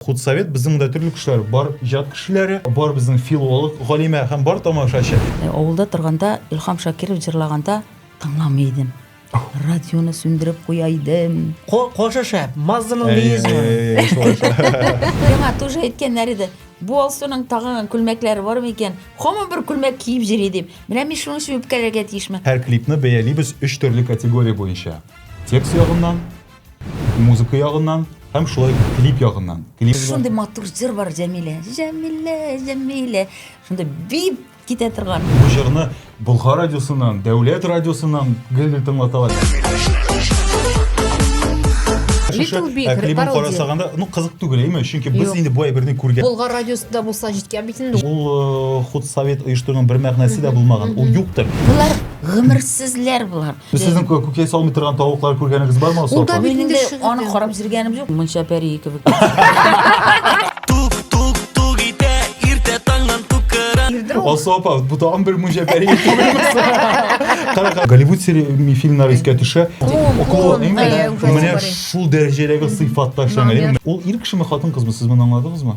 Худсовет безнең монда төрле кешеләр бар, иҗат кешеләре, бар безнең филолог, галимә һәм бар тамашачы. Авылда торганда Илһам Шакиров җырлаганда тыңламый идем. Радионы сүндереп куя идем. Кошы шәп, Мазданың леизмы. Яңа тоже әйткәннәр иде. Бу Алсуның тагын күлмәкләре бар микән? Һаман бер күлмәк киеп йөри дип. Менә мин шуның өчен үпкәләргә тиешме? Һәр клипны бәялибез өч төрле категория буенча. Текст ягыннан, Музыка ягыннан һәм шулай клип ягыннан. Клип шундый матур җыр бар Җәмилә. Җәмилә, Җәмилә. Шундый бип китә торган. Бу җырны Болгар радиосыннан, Дәүләт радиосыннан гел-гел тыңлаталар. Little Big, ә клибын карасаганда, ну кызык түгел, әйме? Чөнки без инде бу әйберне күргән. Болгар радиосында булса җиткән бит инде. Ул э, худ совет оештыруның бер мәгънәсе дә булмаган. Ул юктыр. Булар гомерсезләр булар. Без сезнең кө- күкәй салмый торган тавыклар күргәнегез бармы Ул да Асылапа? бит- Минем дә Инде шигырь аны язды. карап зиргәнем юк. Мунча пәрие кебек. Асылапа, бу тагын бер мунча пәрие түгелмесе. Кара, кара. Голливуд сери- ми- фильмнары искә төшә. Клоун, клоун, әйе, Менә- ужас Менә бар. шул дәрәҗәдәге сыйфатта эшләнгән. Ул ир кешеме, хатын кызмы, сез моны аңладыгызмы?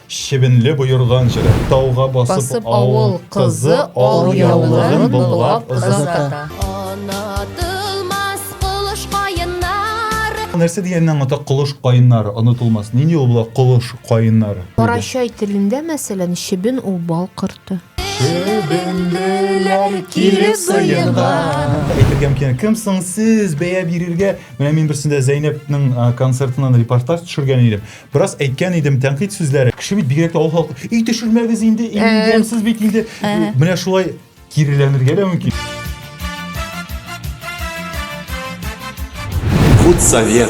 Чебенле боерган җыры. Тауга басып авыл кызы ал яулыгын быллап озата. Нәрсә дигәнне аңлата колыш каеннары, онытылмас. Нинди ул була колыш каеннары? Карачай телендә, мәсәлән, чебен ул бал корты. Чебенлеләр килеп сыенга. Әйтергә мөмкин, кем соң сез бәя бирергә? Менә мин берсендә Зәйнәпнең а, концертыннан репортаж төшергән идем. Бераз әйткән идем, тәнкыйть сүзләре. Кеше бит бигрәк тә авыл халкы, и төшермәгез инде, и Ә. ямьсез бит инде. Ә. Менә шулай киреләнергә дә мөмкин. Худсовет.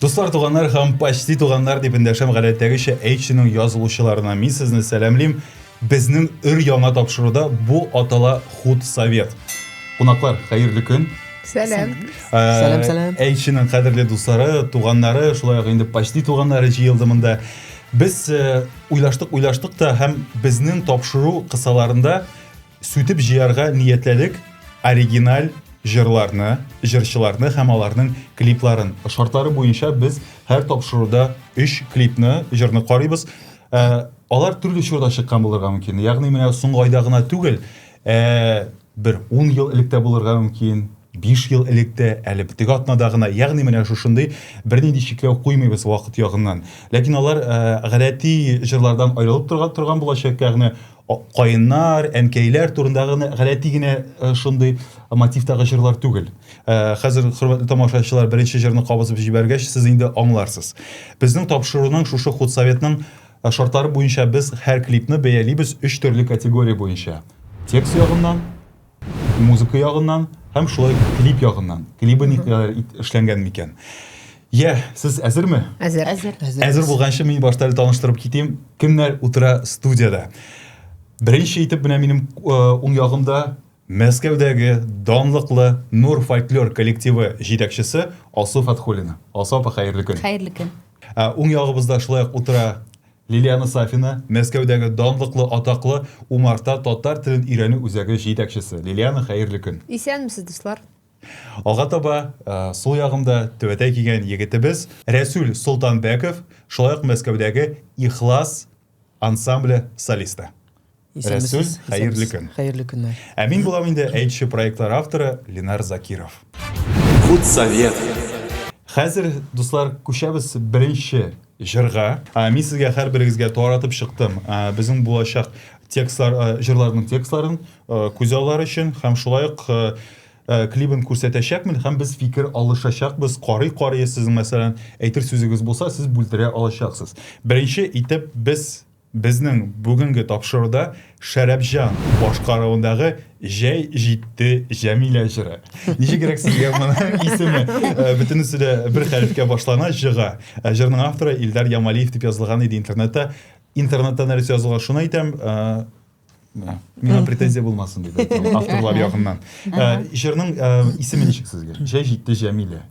Дуслар, туганнар һәм почти туганнар дип эндәшәм гадәттәгечә H-ның язылучыларына. Мин сезне сәламлим. Безнең өр-яңа тапшыруда бу атала худсовет. Кунаклар, хәерле көн. Сәлам. Сәлам, сәлам. Әйчинең кадерле дуслары, туганнары, шулай ук инде почти туганнары җыелды монда. Без уйлаштык, уйлаштык та һәм безнең тапшыру кысаларында сүтеп җыярга ниятләдек оригиналь җырларны, җырчыларны һәм аларның клипларын. Шартлары буенча без һәр тапшыруда өч клипны, җырны карыйбыз. Ә, алар төрле чорда чыккан булырга мөмкин. Ягъни менә соңгы айда гына түгел, ә, бер 10 ел элек тә булырга мөмкин, 5 ел элек тә, әле битек атнада гына. Ягъни менә шушындый бернинди чикләү куймыйбыз вакыт ягыннан. Ләкин алар ә, гадәти җырлардан аерылып торган, торган булачак, ягъни каеннар, әнкәйләр турында гына гадәти генә э, шундый мотивтагы җырлар түгел. Э, хәзер хөрмәтле тамашачылар беренче җырны кабызып җибәргәч, сез инде аңларсыз. Безнең тапшыруның шушы худсоветның э, шартлары буенча без һәр клипны бәялибез өч төрле категория буенча. Текст ягыннан, Музыка ягыннан һәм шулай клип ягыннан. Клибы никадәр эшләнгән микән? Йә, сез әзерме? Әзер. Әзер. Әзер булганчы мин башта әле таныштырып китим. Кемнәр утыра студиядә? Беренче итеп менә минем уң ягымда Мәскәүдәге данлыклы Нур фольклор коллективы җитәкчесе Алсу Фатхуллина. Алсу апа, хәерле көн. Хәерле көн. Уң ягыбызда шулай ук утыра Лилиана Сафина, Мәскәүдәге данлыклы атаклы Умарта татар телен өйрәнү үзәге җитәкчесе. Лилиана, хәерле көн! Исәнмесез, дуслар! Алга таба, сул ягымда түбәтәй кигән егетебез Рәсүл Солтанбәков, шулай ук Мәскәүдәге Ихлас ансамбле солисты. Рәсүл, хәерле көн. Хәерле көннәр. Ә мин булам инде әйтче проектлар авторы Ленар Закиров. Худсовет. Хәзер, дуслар, күчәбез беренче җырга. Мин сезгә һәрберегезгә таратып чыктым безнең булачак текстлар, җырларның текстларын күзаллар өчен һәм шулай ук клибын күрсәтәчәкмен һәм без фикер алышачакбыз. Карый карый сезнең мәсәлән әйтер сүзегез булса, сез бүлдерә алачаксыз. Беренче итеп без Безнең бүгенге тапшыруда Шәрәпҗан башкаруындагы Җәй җитте Җәмилә җыры. Ничегрәк сезгә моның исеме? Э, бөтенесе дә бер хәрефкә башлана, җыга. Э, җырның авторы Илдар Ямалиев дип язылган иде интернетта. Интернетта нәрсә язылган, шуны әйтәм. Э, миңа претензия булмасын дип әйтәм, авторлар ягыннан. Җырның исеме ничек сезгә? Җәй җитте Җәмилә.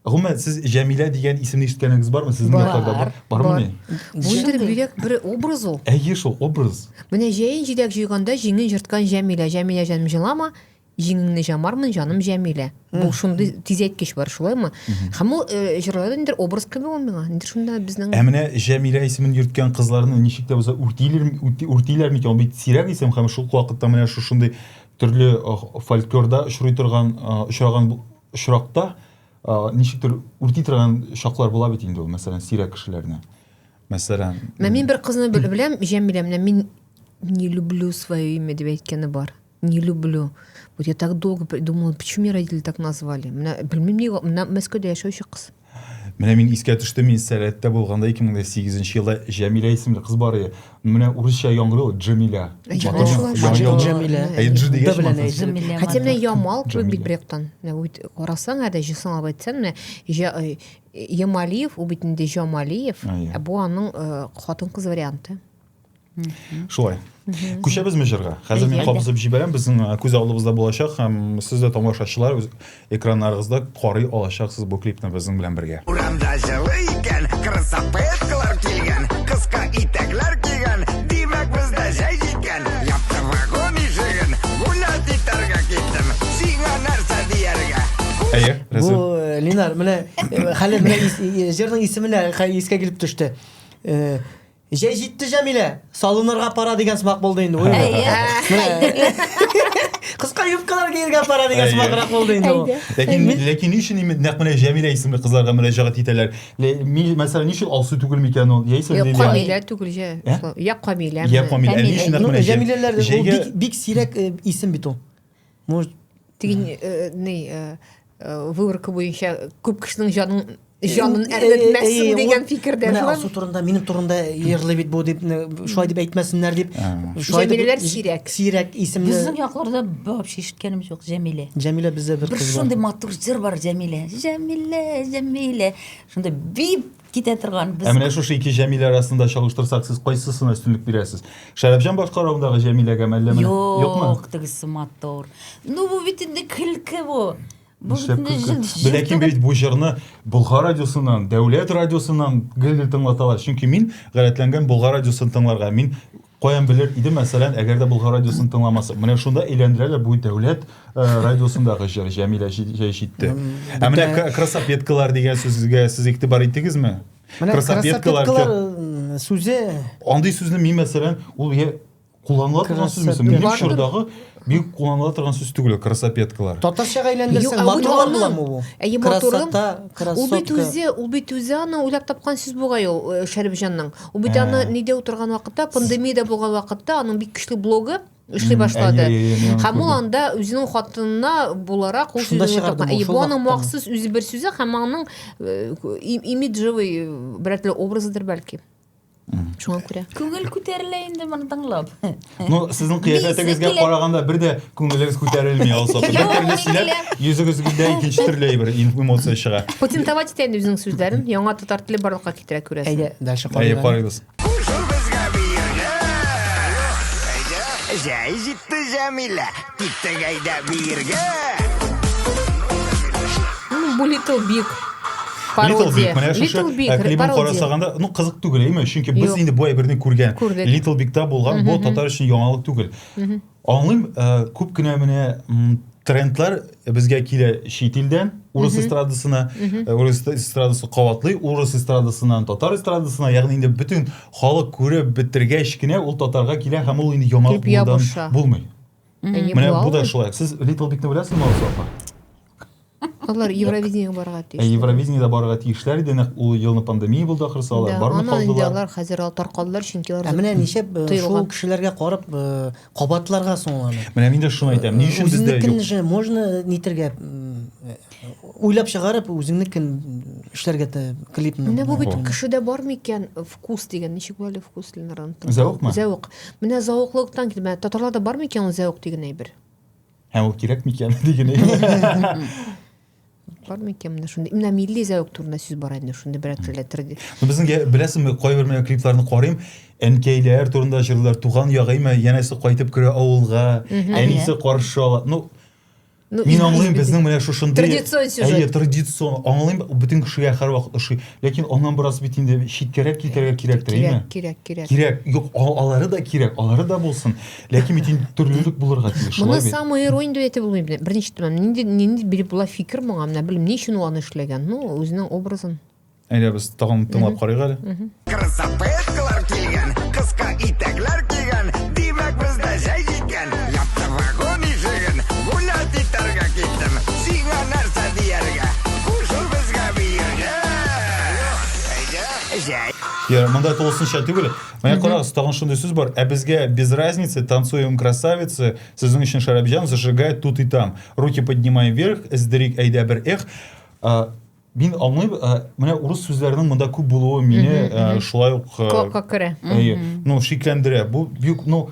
Гомумән, сез Җәмилә дигән исемне ишеткәнегез бармы? Сезнең Бар. якларда бар- бармы Бар. ни? Бу инде Җырдый. бигрәк бер образ ул. Әйе шул, образ. Менә җәен җиләк җыйганда җиңен җырткан Җәмилә, Җәмилә җаным җылама, җиңеңне җамармын, җаным Җәмилә. Бу шундый тизәйткеч бар, шулаймы? Һәм ул э, җырларда ниндер образ кеби ул миңа. Ниндер шунда безнең Ә менә Җәмилә исемен йөрткән кызларны ничек тә булса үртилер, үрти- үртиләр микән? Ул бит сирәк исем һәм шул ук вакытта менә шушындый төрле э, фольклорда очрый торган, э, очраган бу- очракта ничектер үрти торган чаклар була бит инде ул, мәсәлән, сирәк кешеләрне. Мәсәлән, Мә мин бер кызны беләм, Җәмилә, менә мин не люблю свое имя дип әйткәне бар. Не люблю. Вот я так долго думала, почему меня родители так назвали. Менә белмим ни, менә Мәскәүдә яшәүче кыз. Менә мин искә төште, мин сәләттә булганда 2008 елда Җәмилә исемле кыз бар иде. Менә урысча яңгырый ул Җәмилә. Җәмилә. Әйдж дигәч мансыз. Хәтта менә Ямал кебек бит бер яктан. Карасаң, әдә җысыңлап әйтсәң, менә э, Ямалиев, ул бит инде Җамалиев. Ә бу аның э, хатын-кыз варианты. шулай күчәбезме җырга хәзер мин кабызып җибәрәм безнең күз алдыбызда булачак һәм сез дә тамашачылар үз экраннарыгызда карый алачаксыз бу клипны безнең белән бергә урамда җылы икән красаветкалар килгән кыска итәкләр кигән димәк бездә җәй җиткән япты вагон ишеген гулять итәргә киттем сиңа нәрсә дияргә әйе бу линар менә хәле менә җырның исеменә искә килеп төште Җәй җитте, Җәмилә! Салынырга пора дигән сымак булды инде. Уй. Кыска юбкалар киергә пора дигән Әйе. сымаграк булды инде ул. Ләкин, ләкин ни өчен именно нәкъ менә Җәмилә исемле кызларга мөрәҗәгать итәләр? Ле- ми- Мәсәлән, ни өчен Алсу түгел микән ул? Яисә Юк, Лилия? Камилә түгел җә. Ә? Я Камилә. Я Камилә. Ә ни өчен нәкъ Ну, менә Җә- Җәмиләләр ул җәйгә бик, бик сирәк э, исем бит ул. Может, тиген э, ни э, э, выборка буенча күп кешенең җанын җанын э, э, әрнетмәссең э, дигән фикердә менә алсу турында минем турында ерлы бит бу дип шулай дип әйтмәсеннәр дип шулай җәмиләләр сирәк сирәк исемле безнең якларда вообще ишеткәнебез юк җәмилә җәмилә бездә бер кыз бар шундый матур җыр бар җәмилә җәмилә җәмилә шундый бип китә торган без. Ә менә шушы ике Җәмилә арасында чагыштырсак, сез кайсысына өстенлек бирәсез? Шәрәфҗан башкаруындагы Җәмиләгә мәллә менә? Юкмы? Юк, тегесе матур. Ну бу бит инде көлке бу. Бу бит инде җил. Ләкин бит бу җырны Болгар радиосыннан, Дәүләт радиосыннан гел-гел тыңлаталар. Чөнки мин гадәтләнгән Болгар радиосын тыңларга. Мин Каян белер идем, мәсәлән, әгәр дә Болгар радиосын тыңламасам. Менә шунда әйләндерәләр бу дәүләт э, радиосындагы җыр Җәмилә җи- җәй җитте. Ә менә бөтен- кра- красапеткалар дигән сүзгә сез игътибар иттегезме? Менә Красапеткалар, красапеткалар м, сүзе Андый сүзне мин мәсәлән, ул я кулланыла торган сүзме соң? Минем Красапетка. чордагы Бик кулланыла торган сүз түгел красопеткалар. Татарчага әйләндерсәң, матурлар буламы бу? Әйе, матурым. Ул бит үзе, ул бит үзе аны уйлап тапкан сүз бугай ул э, Шәрифҗанның. Ул бит аны нидә утырган вакытта, пандемиядә булган вакытта аның бик көчле блогы эшли башлады. Һәм ул анда үзенең хатынына буларак ул сүзне чыгарды. И бу аның махсус үзе бер сүзе һәм аның э, имиджевый э, берәтле образыдыр бәлки. шуңа күрә күңел күтәрелә инде моны тыңлап ну сезнең кыяфәтегезгә караганда бер дә күңелегез күтәрелми ул саты бер төрле сөйләп йөзегезгә икенче төрле бер эмоция чыга патентовать итә инде үзенең сүзләрен яңа татар теле барлыкка китерә күрәсең әйдә дальше карыйбыз җәй җитте җәмилә Киттек әйдә биергә! Ну, бу Little Big. Little Big, менә шушы Little Big, э, клибын карасаганда, ну кызык түгел, әйме? Чөнки без инде бу әйберне күргән. Little Big-та булган, бу татар өчен яңалык түгел. Аңлыйм, э, күп кенә менә трендлар безгә килә чит илдән, урыс эстрадасына, э, урыс эстрадасы каватлый, урыс эстрадасыннан татар эстрадасына, ягъни инде бөтен халык күреп бетергәч кенә ул татарга килә һәм ул инде яңалык булмый. Менә бу да шулай. Сез Little Big-ны беләсезме, Алсафа? Алар Евровидениегә барырга тиеш. Ә Евровидениедә барырга тиешләр иде, нәкъ ул елны пандемия булды ахрысы, алар бармый калдылар. Аннан инде алар хәзер алар таркалдылар, чөнки алар Менә ничек шул кешеләргә карап кабатларга соң аларны. Менә мин дә шуны әйтәм. Ни өчен бездә юк? Үзенекен же можно нитергә Уйлап чыгарып, үзеңнекен эшләргә тә клипны. Менә бу бит кешедә бар микән вкус дигән, ничек була әле вкус Ленардан? Зәвыкмы? Зәвык. Менә зәвыклыктан килеп, менә татарларда бар микән ул зәвык дигән әйбер? Һәм ул кирәк микән дигән әйбер? Бар микән менә шундый? Менә милли зәвык турында сүз бар инде, шундый берәр телдә төрде. Безнең беләсеңме, кайбер менә клипларны карыйм, әнкәйләр турында җырлар, туган ягыймы, янәсе кайтып керә авылга, әнисе каршы ала. Ну, Ну, Мин аңлыйм, безнең менә шушындый традицион сюжет. Әйе, традицион. Аңлыйм, бөтен кешегә һәрвакыт ошый. Ләкин аннан бераз бит инде читкәрәк китәргә кирәктер, әйеме? Кирәк, кирәк, кирәк. Кирәк. Юк, алары да кирәк, алары да булсын. Ләкин бит инде төрлелек булырга тиеш, шулай бит. Моны самый иронь дип әйтеп булмый. Беренче тәмам нинди нинди биреп була фикер моңа, менә белмим, ни өчен ул аны эшләгән. Ну, үзенең образын. Әйдә без тагын тыңлап карыйк әле. Красаветкалар килгән, кыска итәкләр кигән, димәк бездә җәй җиткән. Япты вагон ишеген, гулять итәргә киттем. Сиңа нәрсә дияргә? Кушыл безгә биергә. Әйдә, җәй. Я, монда тулысынча түгел. Менә карагыз, тагын шундый сүз бар. Ә безгә без разницы, танцуем красавицы, сезнең өчен шәрабҗан, зажигай тут и там. Руки поднимай вверх, эздерик әйдә бер эх. Мин аңлыйм, ә, менә урыс сүзләренең монда күп булуы мине ә, шулай ук ә, Колакка керә. әйе, ну, шикләндерә. Бу бик, ну,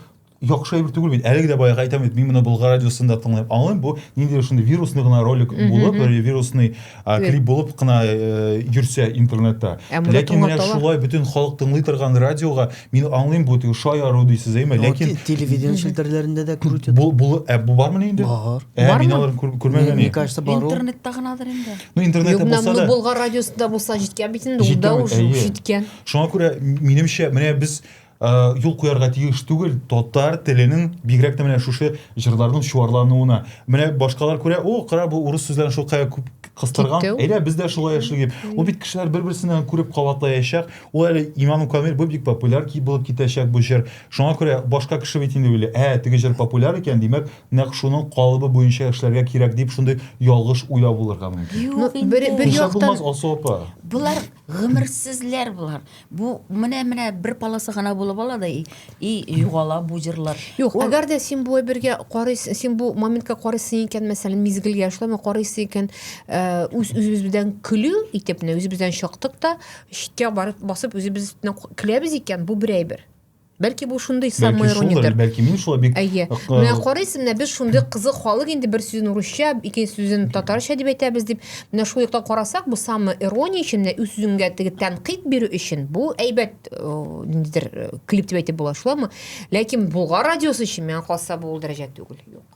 яхшы әйбер түгел бит. Әлеге дә баягы әйтәм бит, мин моны Болгар радиосында тыңлыйм. Аңлыйм, бу ниндидер шундый вирусный гына ролик булып, бер вирусный а, Клип. клип булып кына э, йөрсә интернетта. Ә монда Ләкин менә тыңлаталар. шулай бөтен халык тыңлый торган радиога Мин аңлыйм бу теге шаяру дисез әйме, ләкин телевидение челтәрләрендә дә күрү бу бу ә бу бармы инде? Бар. Ә мин алар күрмәгән. Мне кажется, бар. Интернетта гынадыр инде. Ну интернетта булса да. Болгар радиосында булса җиткән бит инде, ул да уже җиткән. Шуңа күрә минемчә, менә без юл куярга тиеш түгел татар теленең бигрәк тә менә шушы җырларның чуарлануына менә башкалар күрә о кара бу урыс сүзләрен шулкая күп кыстырган әйдә без дә шулай яшик дип ул бит кешеләр бер берсеннән күреп кабатлаячак Ул әле иманым камил, бу бик популяр ки булып китәчәк бу җыр. Шуңа күрә башка кеше бит инде уйлый, ә, теге җыр популяр икән, димәк, нәкъ шуның калыбы буенча эшләргә кирәк дип шундый ялгыш уйлау булырга мөмкин. Ну, Юк бер, инде. бер Нишләп яктан булмас, Алсу апа? Болар гомерсезләр болар. Бу менә менә бер полоса гына булып ала да и, и югала бу җырлар. Юк, Ул- әгәр дә син бу әйбергә карыйсың, син бу моментка карыйсың икән, мәсәлән, мизгелгә шулаймы карыйсың икән, э, үз үзебез белән көлү итеп, менә үзебездән чыктык та, читкә барып басып үзебез өстенә көләбез икән, бу бер әйбер. Бәлки бу шундый самоирониядер. Бәлки мин шулай бик Әйе. Менә карыйсың, менә без шундый кызык халык инде бер сүзен урысча, икенче сүзен татарча дип әйтәбез дип. Менә шул яктан карасак, бу самоирония өчен, менә үз сүзеңгә теге тәнкыйть бирү өчен бу әйбәт ниндидер клип дип әйтеп була, шулаймы? Ләкин Болгар радиосы өчен миңа калса бу ул дәрәҗә түгел. Юк.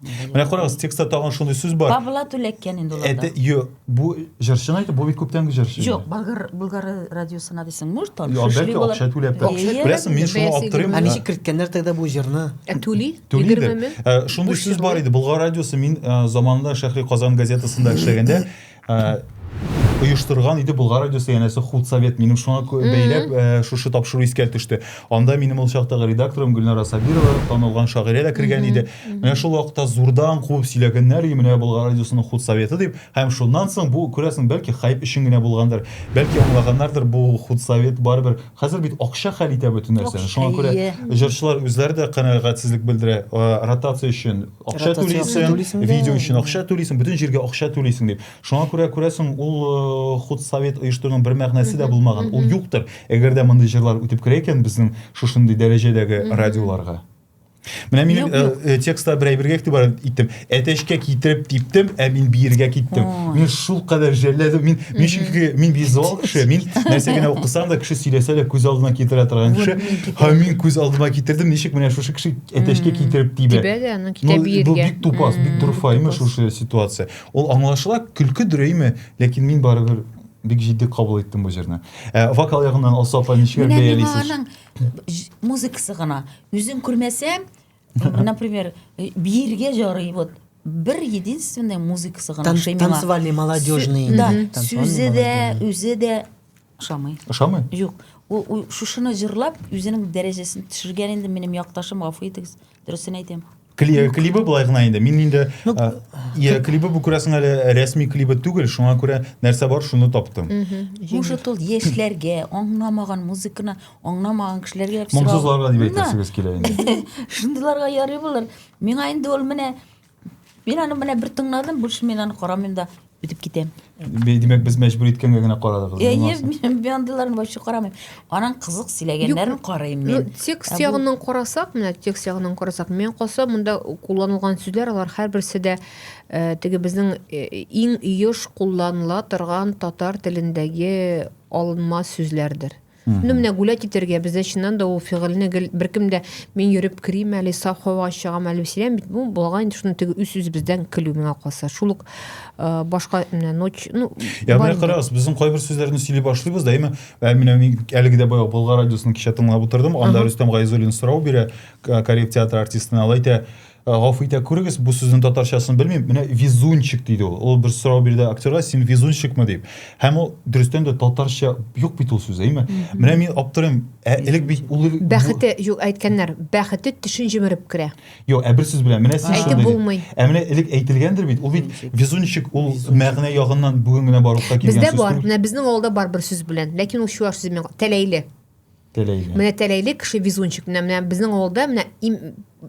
Менә карагыз, текстта тагын шундый сүз бар. Павла Түләккән инде уларда. Әтә, ё, бу җырчыны әйтә, бу бит күптәнге җырчы. Юк, Болгар Болгар радиосына дисең, может, там Ё, шушли бәлки була. акча түләп. Акча Әйе. Беләсең, мин шуны Бәясе аптырыйм. Ә ничек керткәннәр тогда бу җырны? Ә түли? Түлидер. Егерме мең? Ә, Шундый Буш сүз бар җырлар. иде. Болгар радиосы мин ә, заманында Шәһри Казан газетасында эшләгәндә, оештырган иде Болгар радиосы янәсе худсовет. Минем шуңа бәйләп э, шушы тапшыру искә төште. Анда минем ул чактагы редакторым Гөлнара Сабирова, танылган шагыйрә дә кергән иде. Менә шул вакытта зурдан куып сөйләгәннәр и менә Болгар радиосының худсоветы дип. Һәм шуннан соң бу күрәсең, бәлки хайп өчен генә булгандыр. Бәлки аңлаганнардыр бу худсовет барыбер. Хәзер бит акча хәл итә бөтен нәрсәне. Шуңа күрә җырчылар үзләре дә канәгатьсезлек белдерә. Э, ротация өчен акча түлисең видео өчен акча түлисең бөтен җиргә акча түлисең дип шуңа күрә күрәсең ул э, худ совет оештыруның бер мәгънәсе дә булмаган ул юктыр әгәр дә мондый җырлар үтеп керә икән безнең шушындый дәрәҗәдәге радиоларга Менә минем э, э, текстта бер әйбергә игътибар иттем. Әтәчкә китереп типтем, ә мин биергә киттем. Мин шул кадәр жәлләдем. Мин мин чөнки мин визуал кеше, мин нәрсә генә укысам да кеше сөйләсә дә күз алдына китерә торган кеше. Һәм мин күз алдыма китердем, ничек менә шушы кеше әтәчкә китереп тибә. Тибә дә, аны китә биергә. Бу бик тупас, бик дурфа име шушы ситуация. Ул аңлашыла, көлке дөрә име, ләкин мин барыбер бик җитди кабул иттем бу җырны. Ә, вокал ягыннан Алса апа ничек бәялисез? Менә аның музыкасы гына. Үзен күрмәсәм, например, биергә ярый вот бер единственная музыкасы гына. Танцевальный, молодежный. Да, сүзе дә, үзе дә Ошамый. Ошамый? Юк. Ул, ул шушыны җырлап, үзенең дәрәҗәсен төшергән инде минем якташым, гафу итегез, дөресен әйтәм. Кли, э, клибы былай гына инде. Мин инде ну, а, я, клибы бу күрәсең әле э, рәсми клибы түгел, шуңа күрә нәрсә бар, шуны таптым. Может, ул яшьләргә, аңламаган музыканы аңламаган кешеләргә Моңсызларга дип әйтәсегез килә инде. Шундыйларга ярый булыр. Миңа инде ул менә Мин аны менә бер тыңладым, больше мин аны карамыйм да үтеп китәм. Бе- Димәк, без мәҗбүр иткәнгә генә карадыгыз. Я не булмаса. мин бу андыйларны вообще карамыйм. Аның кызык сөйләгәннәрен Юк, карыйм Ну, мин. текст Ә бу- ягыннан карасак, менә текст ягыннан карасак, мен калса монда кулланылган сүзләр алар һәрберсе дә э, теге безнең э, иң еш кулланыла торган татар телендәге алынма сүзләрдер. Ну, менә гулять итәргә, бездә чыннан да ул фигыльне гел беркем дә мин йөреп керим әле, саф һавага чыгам әле сөйләм бит. Бу булган инде шуны теге үз-үзебездән көлү миңа калса. Шул ук э, башка менә ночь, ну, Я менә карагыз, безнең кайбер сүзләрне сөйли башлыйбыз да, әйме, ә менә мин әлеге дә баягы Болгар радиосын кичә тыңлап утырдым, анда Рөстәм Гайзуллин сорау бирә, Кариев театры артистына, алай әйтә, Э, гафу итә күрегез бу сүзнең татарчасын белмим менә везунчик диде ул ул бер сорау бирде актерга син везунчикмы дип һәм ул дөрестән дә татарча юк бит ул сүз әйме менә мин аптырыйм ә элек бит ул бәхете юк әйткәннәр бәхете төшен җимереп керә юк ә бер сүз белән менә син әйтеп булмый ә менә элек әйтелгәндер бит ул бит везунчик ул мәгънә ягыннан бүген генә барлыкка килгән сүз бездә бар менә безнең авылда бар бер сүз белән ләкин ул чуаш сүзе тәләйле Тәләйле. Менә тәләйле кеше везунчик. Менә менә безнең авылда менә им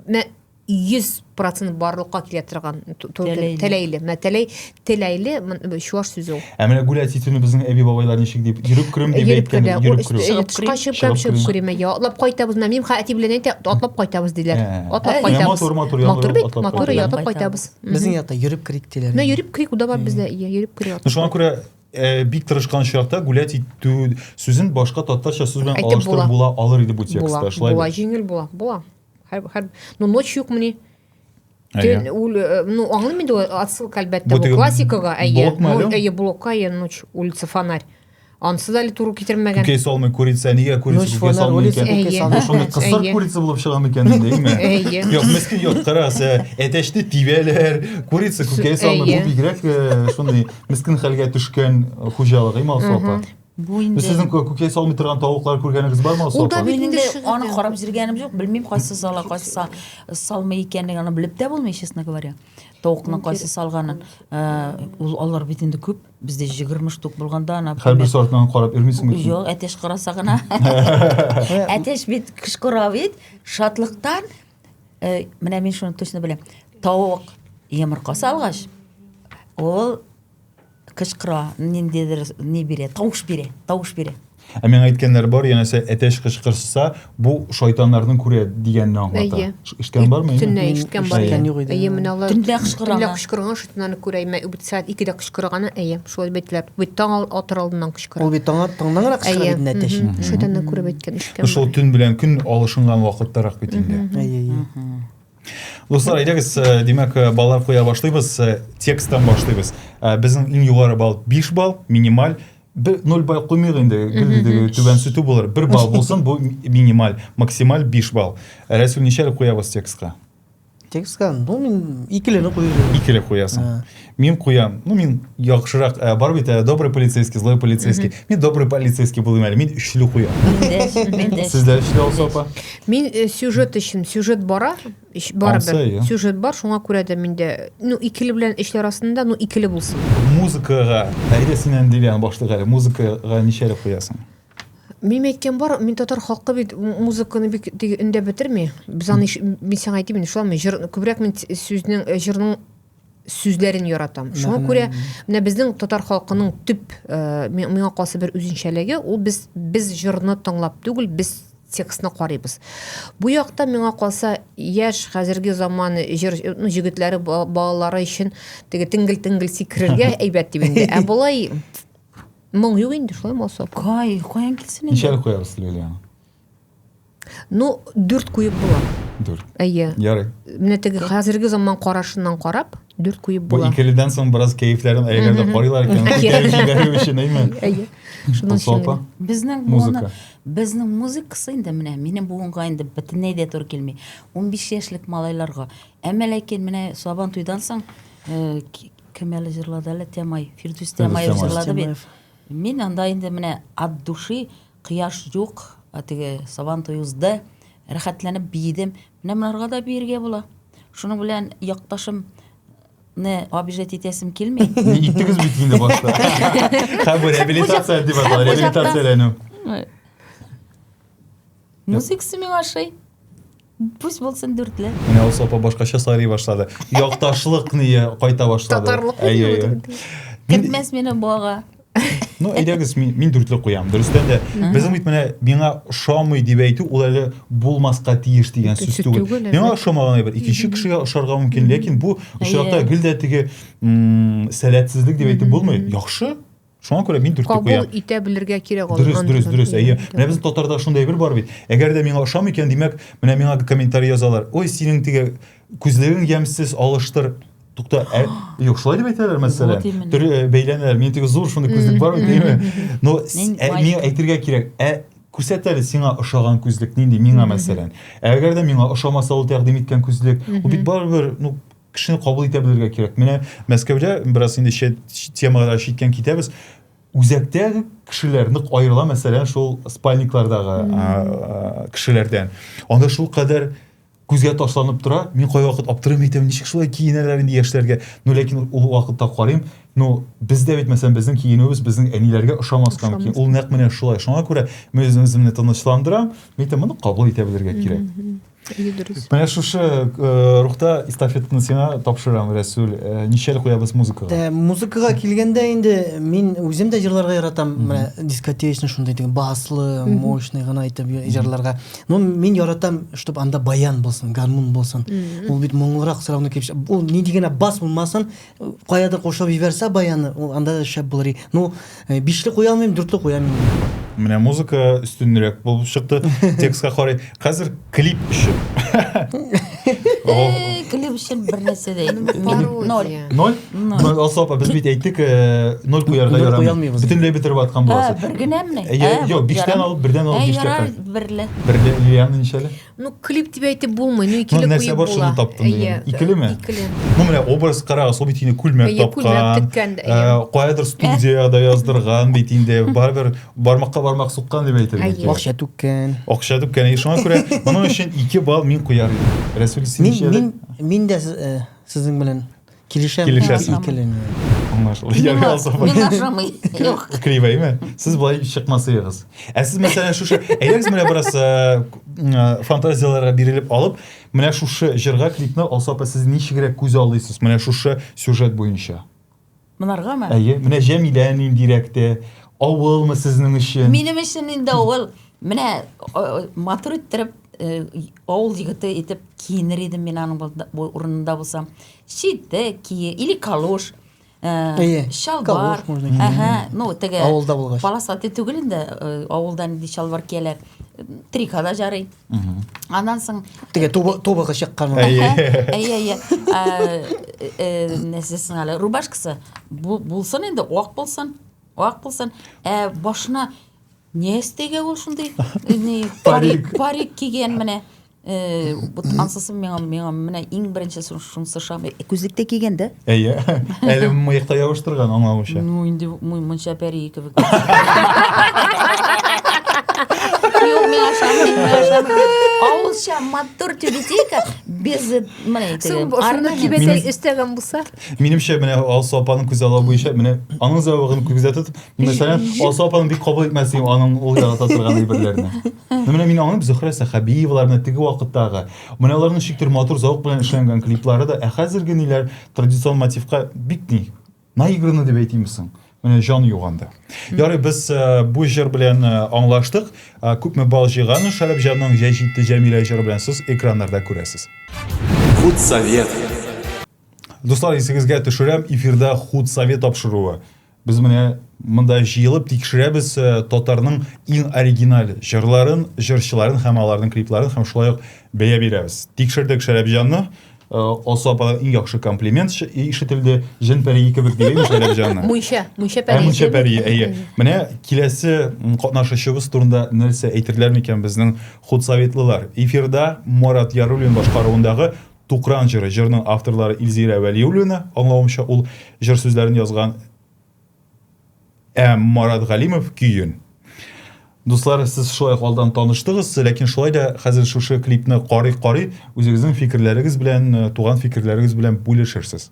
менә 100% барлыкка килә торган тәләйле. Тәләйле. Менә тәләй тәләйле чуаш сүзе ул. Ә менә гүләти төне безнең әби бабайлар ничек дип йөреп керүм дип әйткән. Йөреп керү. Чыгып керү. Чыгып керү. Чыгып керү. Менә ятлап кайтабыз. Менә мин хәти белән әйтә, атлап кайтабыз диләр. Атлап кайтабыз. Матур матур ятлап. Матур бит. Матур ятлап кайтабыз. Безнең якта йөреп керик диләр. Менә йөреп керик, уда бар бездә йөреп керү. Шуңа күрә Э, бик тырышкан чакта гулять итү сүзен башка татарча сүз белән алыштырып була алыр иде бу текстта шулай була җиңел була була һәр ну ночь юкмыни э, ну аңлыйм инде отсылка әлбәттә бу классикага әйе әйе блокка әйе ночь улица фонарь Ансы да әле туры китермәгән. Күкәй салмый курица, нигә курица күкәй салмый икән? Әйе. Шуны кысыр курица булып чыга микән инде, әйме? Әйе. Юк, мескин юк, карас, әтәчне тибәләр, курица күкәй салмый, бу бигрәк шундый Мескен хәлгә төшкән хуҗалыгы Малсу апа. Бу инде. Сезнең күкәй салмый торган тавыклар күргәнегез бар Малсу апа? Мин инде аны карап җиргәнем юк, белмим кайсы сала, кайсы салмый икәнлеген аны белеп тә булмый, честно говоря. Тавыкны кайсы салганын. Э, ул алар бит инде күп. Бездә 20 штук булганда ана. Һәрбер сортын карап йөрмисеңме? Юк, әтеш караса гына. Әтеш бит кышкыра бит. Шатлыктан Э, менә мин шуны точно беләм. Тавык йомырка салгач, ул кычкыра, ниндидер ни бирә, тавыш бирә, тавыш бирә. Ә миңа әйткәннәр бар, янәсе әтәч кычкырса, бу шайтаннарның күрә дигәнне аңлата. Әйе. Эшкән бармы? Төнлә ишеткән бар. Әйе, менә алар. Төнлә кычкырган. Төнлә кычкырган шайтаннарны күрә, имә үбит сәгать 2-дә кычкырганы, әйе. Шулай бетләп, бит таң атыр алдыннан кычкыра. Ул бит таң аттыңнан гына кычкыра бит инде әтәч. Шудан да күреп әйткән ишкән. Шул төн белән көн алышынган вакыттарак бит инде. Әйе, әйе. Дуслар, әйдәгез, э, димәк, э, баллар куя башлыйбыз, э, тексттан башлыйбыз. Безнең иң югары балл 5 балл, минималь. Бер 0 балл куймыйк инде, гел түбән сүтү булыр. 1 балл булсын, бу минималь, максималь 5 балл. Рәсүл ничә куябыз текстка? Текстка, ну, мин икеле кую. Икеле куясың. Ә. Мин куям. Ну, мин яхшырак, ә, бар бит, ә, добрый полицейский, злой полицейский. Мин добрый полицейский булыйм әле. Мин өчле куям. Сездә өчле алса апа? Мин э, сюжет өчен, сюжет бара, ич- барыбер. Алса, иә. Сюжет бар, шуңа күрә дә миндә, ну, икеле белән өчле арасында, ну, икеле булсын. Музыкага, әйдә синнән дилән башлык әле. Музыкага ничәле куясың? Мин әйткән бар, мин татар халкы бит музыканы бик теге өндә бетерми. Без аны мин сиңа әйтим, шулаймы? Җыр күбрәк мин сүзнең э, җырның сүзләрен яратам. Шуңа күрә менә безнең татар халкының төп э, миңа калса бер үзенчәлеге, ул без без җырны тыңлап түгел, без текстны карыйбыз. Бу якта миңа калса яшь хәзерге заман җыр ну, җегетләре балалары өчен теге тингл-тингл сикрергә әйбәт дип инде. Ә болай Моң юк инде, шулай булса. Кай, каян килсен инде? Ничәлек куябыз, Лилиана? Ну, дүрт куеп була. Дүрт. Әйе. Ярый. Менә теге хәзерге заман карашыннан карап, дүрт куеп була. Бу икеледән соң бераз кәефләрен әйгәндә карыйлар икән. Кәеф җибәрү өчен, әйме? Әйе. Шуның өчен. Безнең музыка. Безнең музыкасы инде менә минем буынга инде бөтенләй дә туры килми. 15 яшьлек малайларга. Әмма ләкин менә Сабан туйдан соң э, Кем әле җырлады әле Тямай? Фирдүс Тямаев җырлады бит. Мин анда инде менә от души кояш юк, теге сабан туй узды, рәхәтләнеп биедем. Менә монарга да биергә була. Шуның белән якташым не обижать итәсем килми. Иттегез бит инде башта. Һәм бу реабилитация дип атала, реабилитацияләнү. Музыкасы миңа ошый. Пусть булсын дүртле. Менә Алсу апа башкача сайрый башлады. Якташлык ние кайта башлады. Татарлык Әйе, әйе. юк. Мин- Кертмәс мине бога. Ну, әйдәгез, мин, мин дүртле куям. Дөрестән дә, безнең бит менә миңа ошамый дип әйтү, ул әле булмаска тиеш дигән сүз Сүз түгел. түгел, Миңа ошамаган әйбер икенче кешегә ошарга мөмкин, ләкин бу очракта Әйе. гел дә теге м, сәләтсезлек дип әйтеп булмый. Яхшы, шуңа күрә мин дүрткә куям кабул итә белергә кирәк ул дөрес дөрес дөрес әйе менә безнең татарда шундай бер бар бит әгәр дә миңа ошамый икән димәк менә миңа комментарий язалар ой синең теге күзлегең ямьсез алыштыр тукта ә, юк шулай дип әйтәләр мәсәлән вот именно. төрле э, бәйләнәләр мин теге зур шундый күзлек бар бит әйеме но ә, миңа әйтергә кирәк ә күрсәт әле сиңа ошаган күзлек нинди миңа мәсәлән әгәр дә миңа ошамаса ул тәкъдим иткән күзлек ул бит барыбер ну кешене кабул итә белергә кирәк. Менә Мәскәүдә бераз инде чит темага читтән китәбез. Үзәктә кешеләр нык аерыла, мәсәлән, шул спальниклардагы кешеләрдән. Анда шул кадәр күзгә ташланып тора. Мин кайвакыт аптырыйм әйтәм, ничек шулай киенәләр инде яшьләргә. Ну, ләкин ул вакытта карыйм, ну, бездә бит мәсәлән безнең киенүебез безнең әниләргә ошамас та мөмкин. Ул нәкъ менә шулай. Шуңа күрә мин үземне тынычландырам, әйтәм, моны кабул итә белергә кирәк. Дөрес. Менә шушы э, рухта эстафетаны сиңа тапшырам, Рәсүл. Э, Ничәл куябыз музыкага? Ә, музыкага килгәндә инде мин үзем дә җырларга яратам. Менә дискотечный шундый диген, баслы, мощный гына итеп җырларга. Но мин яратам, чтобы анда баян булсын, гармун булсын. Ул бит моңлырак сорауны килеп, ул ни дигәнә бас булмасын, Каядыр кушып җибәрсә баяны, ул анда да шәп булыр. Ну, э, бишле куя алмыйм, дүртле куям инде. Менә музыка өстенрәк булып чыкты. Текстка карый. Хәзер клип өчен. Э, Клип өчен бер нәрсә дә әйтмим. Пародия. Ноль. Ноль? Ноль. Алсу апа, без бит әйттек, э, ноль куярга Ноль ярамый. куялмыйбыз. Бөтенләй бетереп аткан Ә, буласыз. бер генәме? Ә, я- Ә, юк, биштән ярар. алып, бердән алып Ә, биштә ярар, калды. берле. Берле Лилиана ничәле? Ну, клип дип әйтеп булмый, ну икеле ну, нәрсә бар шуны таптым дигән. Икелеме? Икеле. Ну, менә образ карагыз, ул бит инде күлмәк тапкан. Каядыр студиядә яздырган бит инде. Барыбер бармакка бармак суккан дип әйтер идек. Акча түккән. Акча түккән. И шуңа күрә моның өчен 2 балл мин куяр идем. Рәсүл син Мин мин дә сезнең белән Килешәм. Килешәсең. Икеләнү. Аңлашылды. Ярый алса. Миңа ошамый. Юк. Кривәйме? Сез болай чыкмасыгыз. Ә сез мәсәлән шушы әйдәгез менә бераз э, э, фантазияләргә бирелеп алып, менә шушы җырга клипны алса апа сез ничегрәк күз алыйсыз? Менә шушы сюжет буенча. Монаргамы? Әйе, менә Җәмилә ниндирәк тә, авылмы сезнең өчен? Минем өчен инде авыл. Менә матур иттереп авыл егете итеп киенер идем мин аның урынында булсам. Читек кие или калош. Әйе. Чалбар. Әһә, ну теге авылда булгач. Полосатый түгел инде, авылда нинди чалбар кияләр. Трикада жарый. Аннан соң теге тубы тубы чыккан. Әйе. Әйе, әйе. Э, нәсесен әле рубашкасы булсын инде, ак булсын. Ак булсын. Ә башына Не эстейгә ул шундый ни парик парик кигән менә э, вот ансызым миңа миңа менә иң беренче шу- шунысы шам күзлек тә кигән дә Әйе. Әле мыекта ябыштырган аңлавымча. ну инде мо- монча пәрие кебек Юк, миңа ошамый, миңа ошамый. авылча матур тюбетейка без э, менә Соң итеген бошымны орнамент. кибәтәй өстәгән булса. Минемчә, менә Алсу апаның күз аллау буенча, менә аның зәвыгын күздә тотып, мин мәсәлән, Алсу апаның бик кабул итмәс идем аның ул ярата торган әйберләрне. Ну, менә мин аңлыйм, Зөһрә Сәхәбиевалар, менә теге вакыттагы, менә аларның шиктер матур зәвык белән эшләнгән клиплары да, ә хәзерге ниләр традицион мотивка бик ни, наиграны дип әйтимме соң? Менә җан юганда. Ярый, без э, бу җыр белән э, аңлаштык. Э, Күпме бал җыйган Шәрәпҗанның җәй җитте Җәмилә җыры белән сез экраннарда күрәсез. Худсовет. Дуслар, исегезгә төшерәм, эфирда худ совет тапшыруы. Без менә монда җыелып тикшерәбез э, татарның иң оригиналь җырларын, җырчыларын һәм аларның клипларын һәм шулай ук бәя бирәбез. Тикшердек Шәрәпҗанны, э, Алсу ападан иң яхшы комплимент ш- ишетелде. Җен пәрие кебек диген Шәрәпҗанны. Мунча, мунча Ә пәрие. мунча пәрие, әйе. Менә киләсе м, катнашучыбыз турында нәрсә әйтерләр микән безнең худсоветлылар? Эфирда Марат Яруллин башкаруындагы Тукран җыры. Җырның авторлары Илзирә Вәлиуллина, аңлавымча, ул җыр сүзләрен язган ә Марат Галимов көен. Дуслар, сез шулай ук алдан таныштыгыз, ләкин шулай да хәзер шушы клипны карый-карый үзегезнең фикерләрегез белән, э, туган фикерләрегез белән бүлешерсез.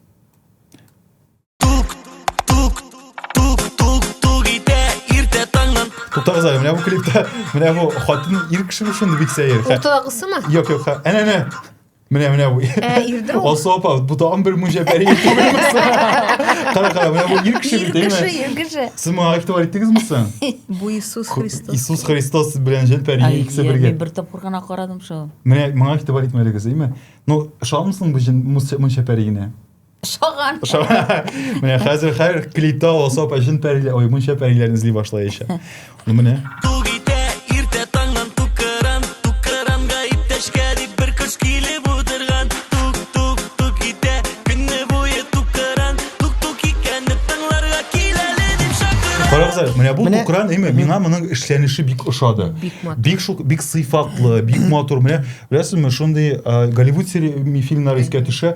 Тутагыз әле, менә бу клипта, менә бу хатын ир кеше бу шундый бик сәер. Уртадагысымы? Юк, юк, әнә әнә. Менә менә бу. Ә, ирдә ул. Алсу апа, бу тагын бер мунҗа бәри итүгез. Кара кара, менә бу ир кеше бит, әйме? Ир кеше, ир кеше. Сез моңа игътибар иттегезме соң? Бу Иисус Христос. Иисус Христос белән җен пәри икесе бергә. Мин бер тапкыр гына карадым шул. Менә моңа игътибар итмәдегез, әйме? Ну, шалмысың бу җен мунча пәригенә? Шаган. Шаган. Менә хәзер хәр клипта алса пәшин пәриле, ой, мунча пәриләрен эзли башлаячак. Ну менә. Карагыз, менә бу тукран эме, миңа моның эшләнеше бик ошады. Бик шул бик сыйфатлы, бик матур. Менә беләсезме, шундый Голливуд фильмнары искә төшә.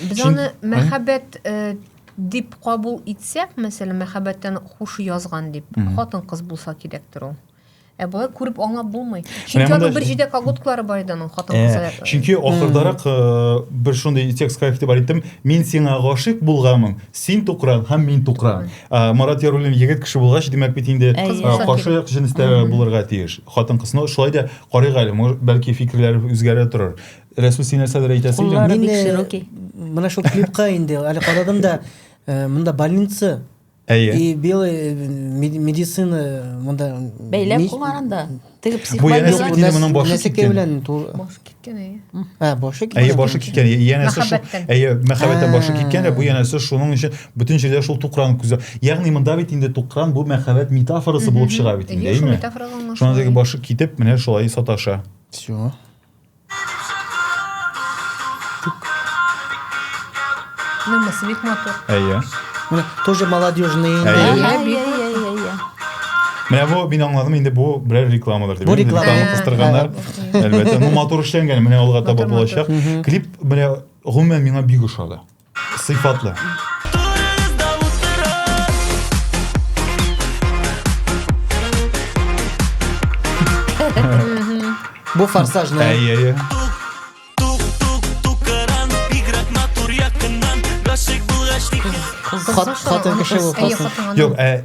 Без Чын... аны мәхәббәт э, дип кабул итсәк, мәсәлән, мәхәббәттән хуш язган дип, хатын кыз булса кирәктер ул. Ә болай күреп аңлап булмый. Чөнки аның бер җидә колготкалары бар иде аның хатын э, кызы. Э, чөнки ахырдарак э, бер шундый текстка игътибар иттем. Мин сиңа гашыйк булганмын, син тукран һәм мин тукран. Марат Яруллин егет кеше булгач, димәк бит инде каршы як җенестә булырга тиеш. Хатын кызны шулай да карыйк әле, бәлки фикерләре үзгәрә торыр. Рәсүл син нәрсәдер әйтәсе идең. Куллары бик широкий. Менә шул клипка инде әле карадым да э, монда больница Әйе. И белый э, медицина монда бәйләп куйган да. Теге психология менә моның башы киткән. белән башы киткән әйе. Ә, башы киткән. Әйе, башы киткән. Янәсе шул. Әйе, мәхәббәттән башы киткән, бу янәсе шуның өчен бөтен җирдә шул тукран күзә. Ягъни монда бит инде тукран бу мәхәббәт метафорасы булып чыга бит инде, әйеме? Шундый башы китеп, менә шулай саташа. Всё. Нәмәсе бик матур. Әйе. Менә тоже молодежный инде. Әйе. Әйе, Әйе, бик әйе, әйе, әйе. Менә бу мин аңладым инде бу берәр рекламадыр дип. Бу Инде реклама. реклама кыстырганнар. Әлбәттә, ну матур эшләнгән, менә алга таба Матур, матур. булачак. Клип менә гомумән миңа бик ошады. Сыйфатлы. Бу форсажный. Әйе, әйе. Хат, хатын кеше бу Әйе, форсаж. хатынга. Юк, ә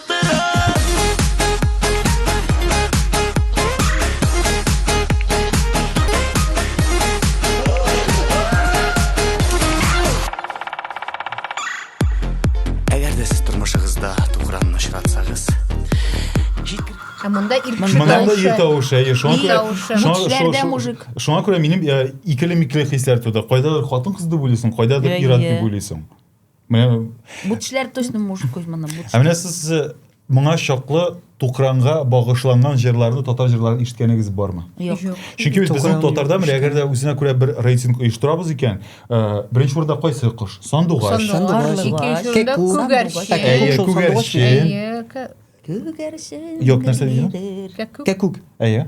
Монанда ир тавышы, әйе, шуңа күрә. Шуңа мужик. Шуңа күрә минем икеле-микле хисләр туды. Кайдадыр хатын-кыз дип уйлыйсың, кайдадыр ир-ат дип уйлыйсың. Менә Бу тешләр точно может куй моны. Ә менә сез э, моңа чаклы Тукранга багышланган җырларны, татар җырларын ишеткәнегез бармы? Юк. Чөнки без безнең татарда менә әгәр дә үзенә күрә бер рейтинг оештырабыз икән, э, беренче урында кайсы кош? Сандугач. Сандугач. Икенче урында күгәрчен. Әйе, күгәрчен. Әйе, Күгәрчен. Юк, нәрсә дидең? Кәкүк. Әйе.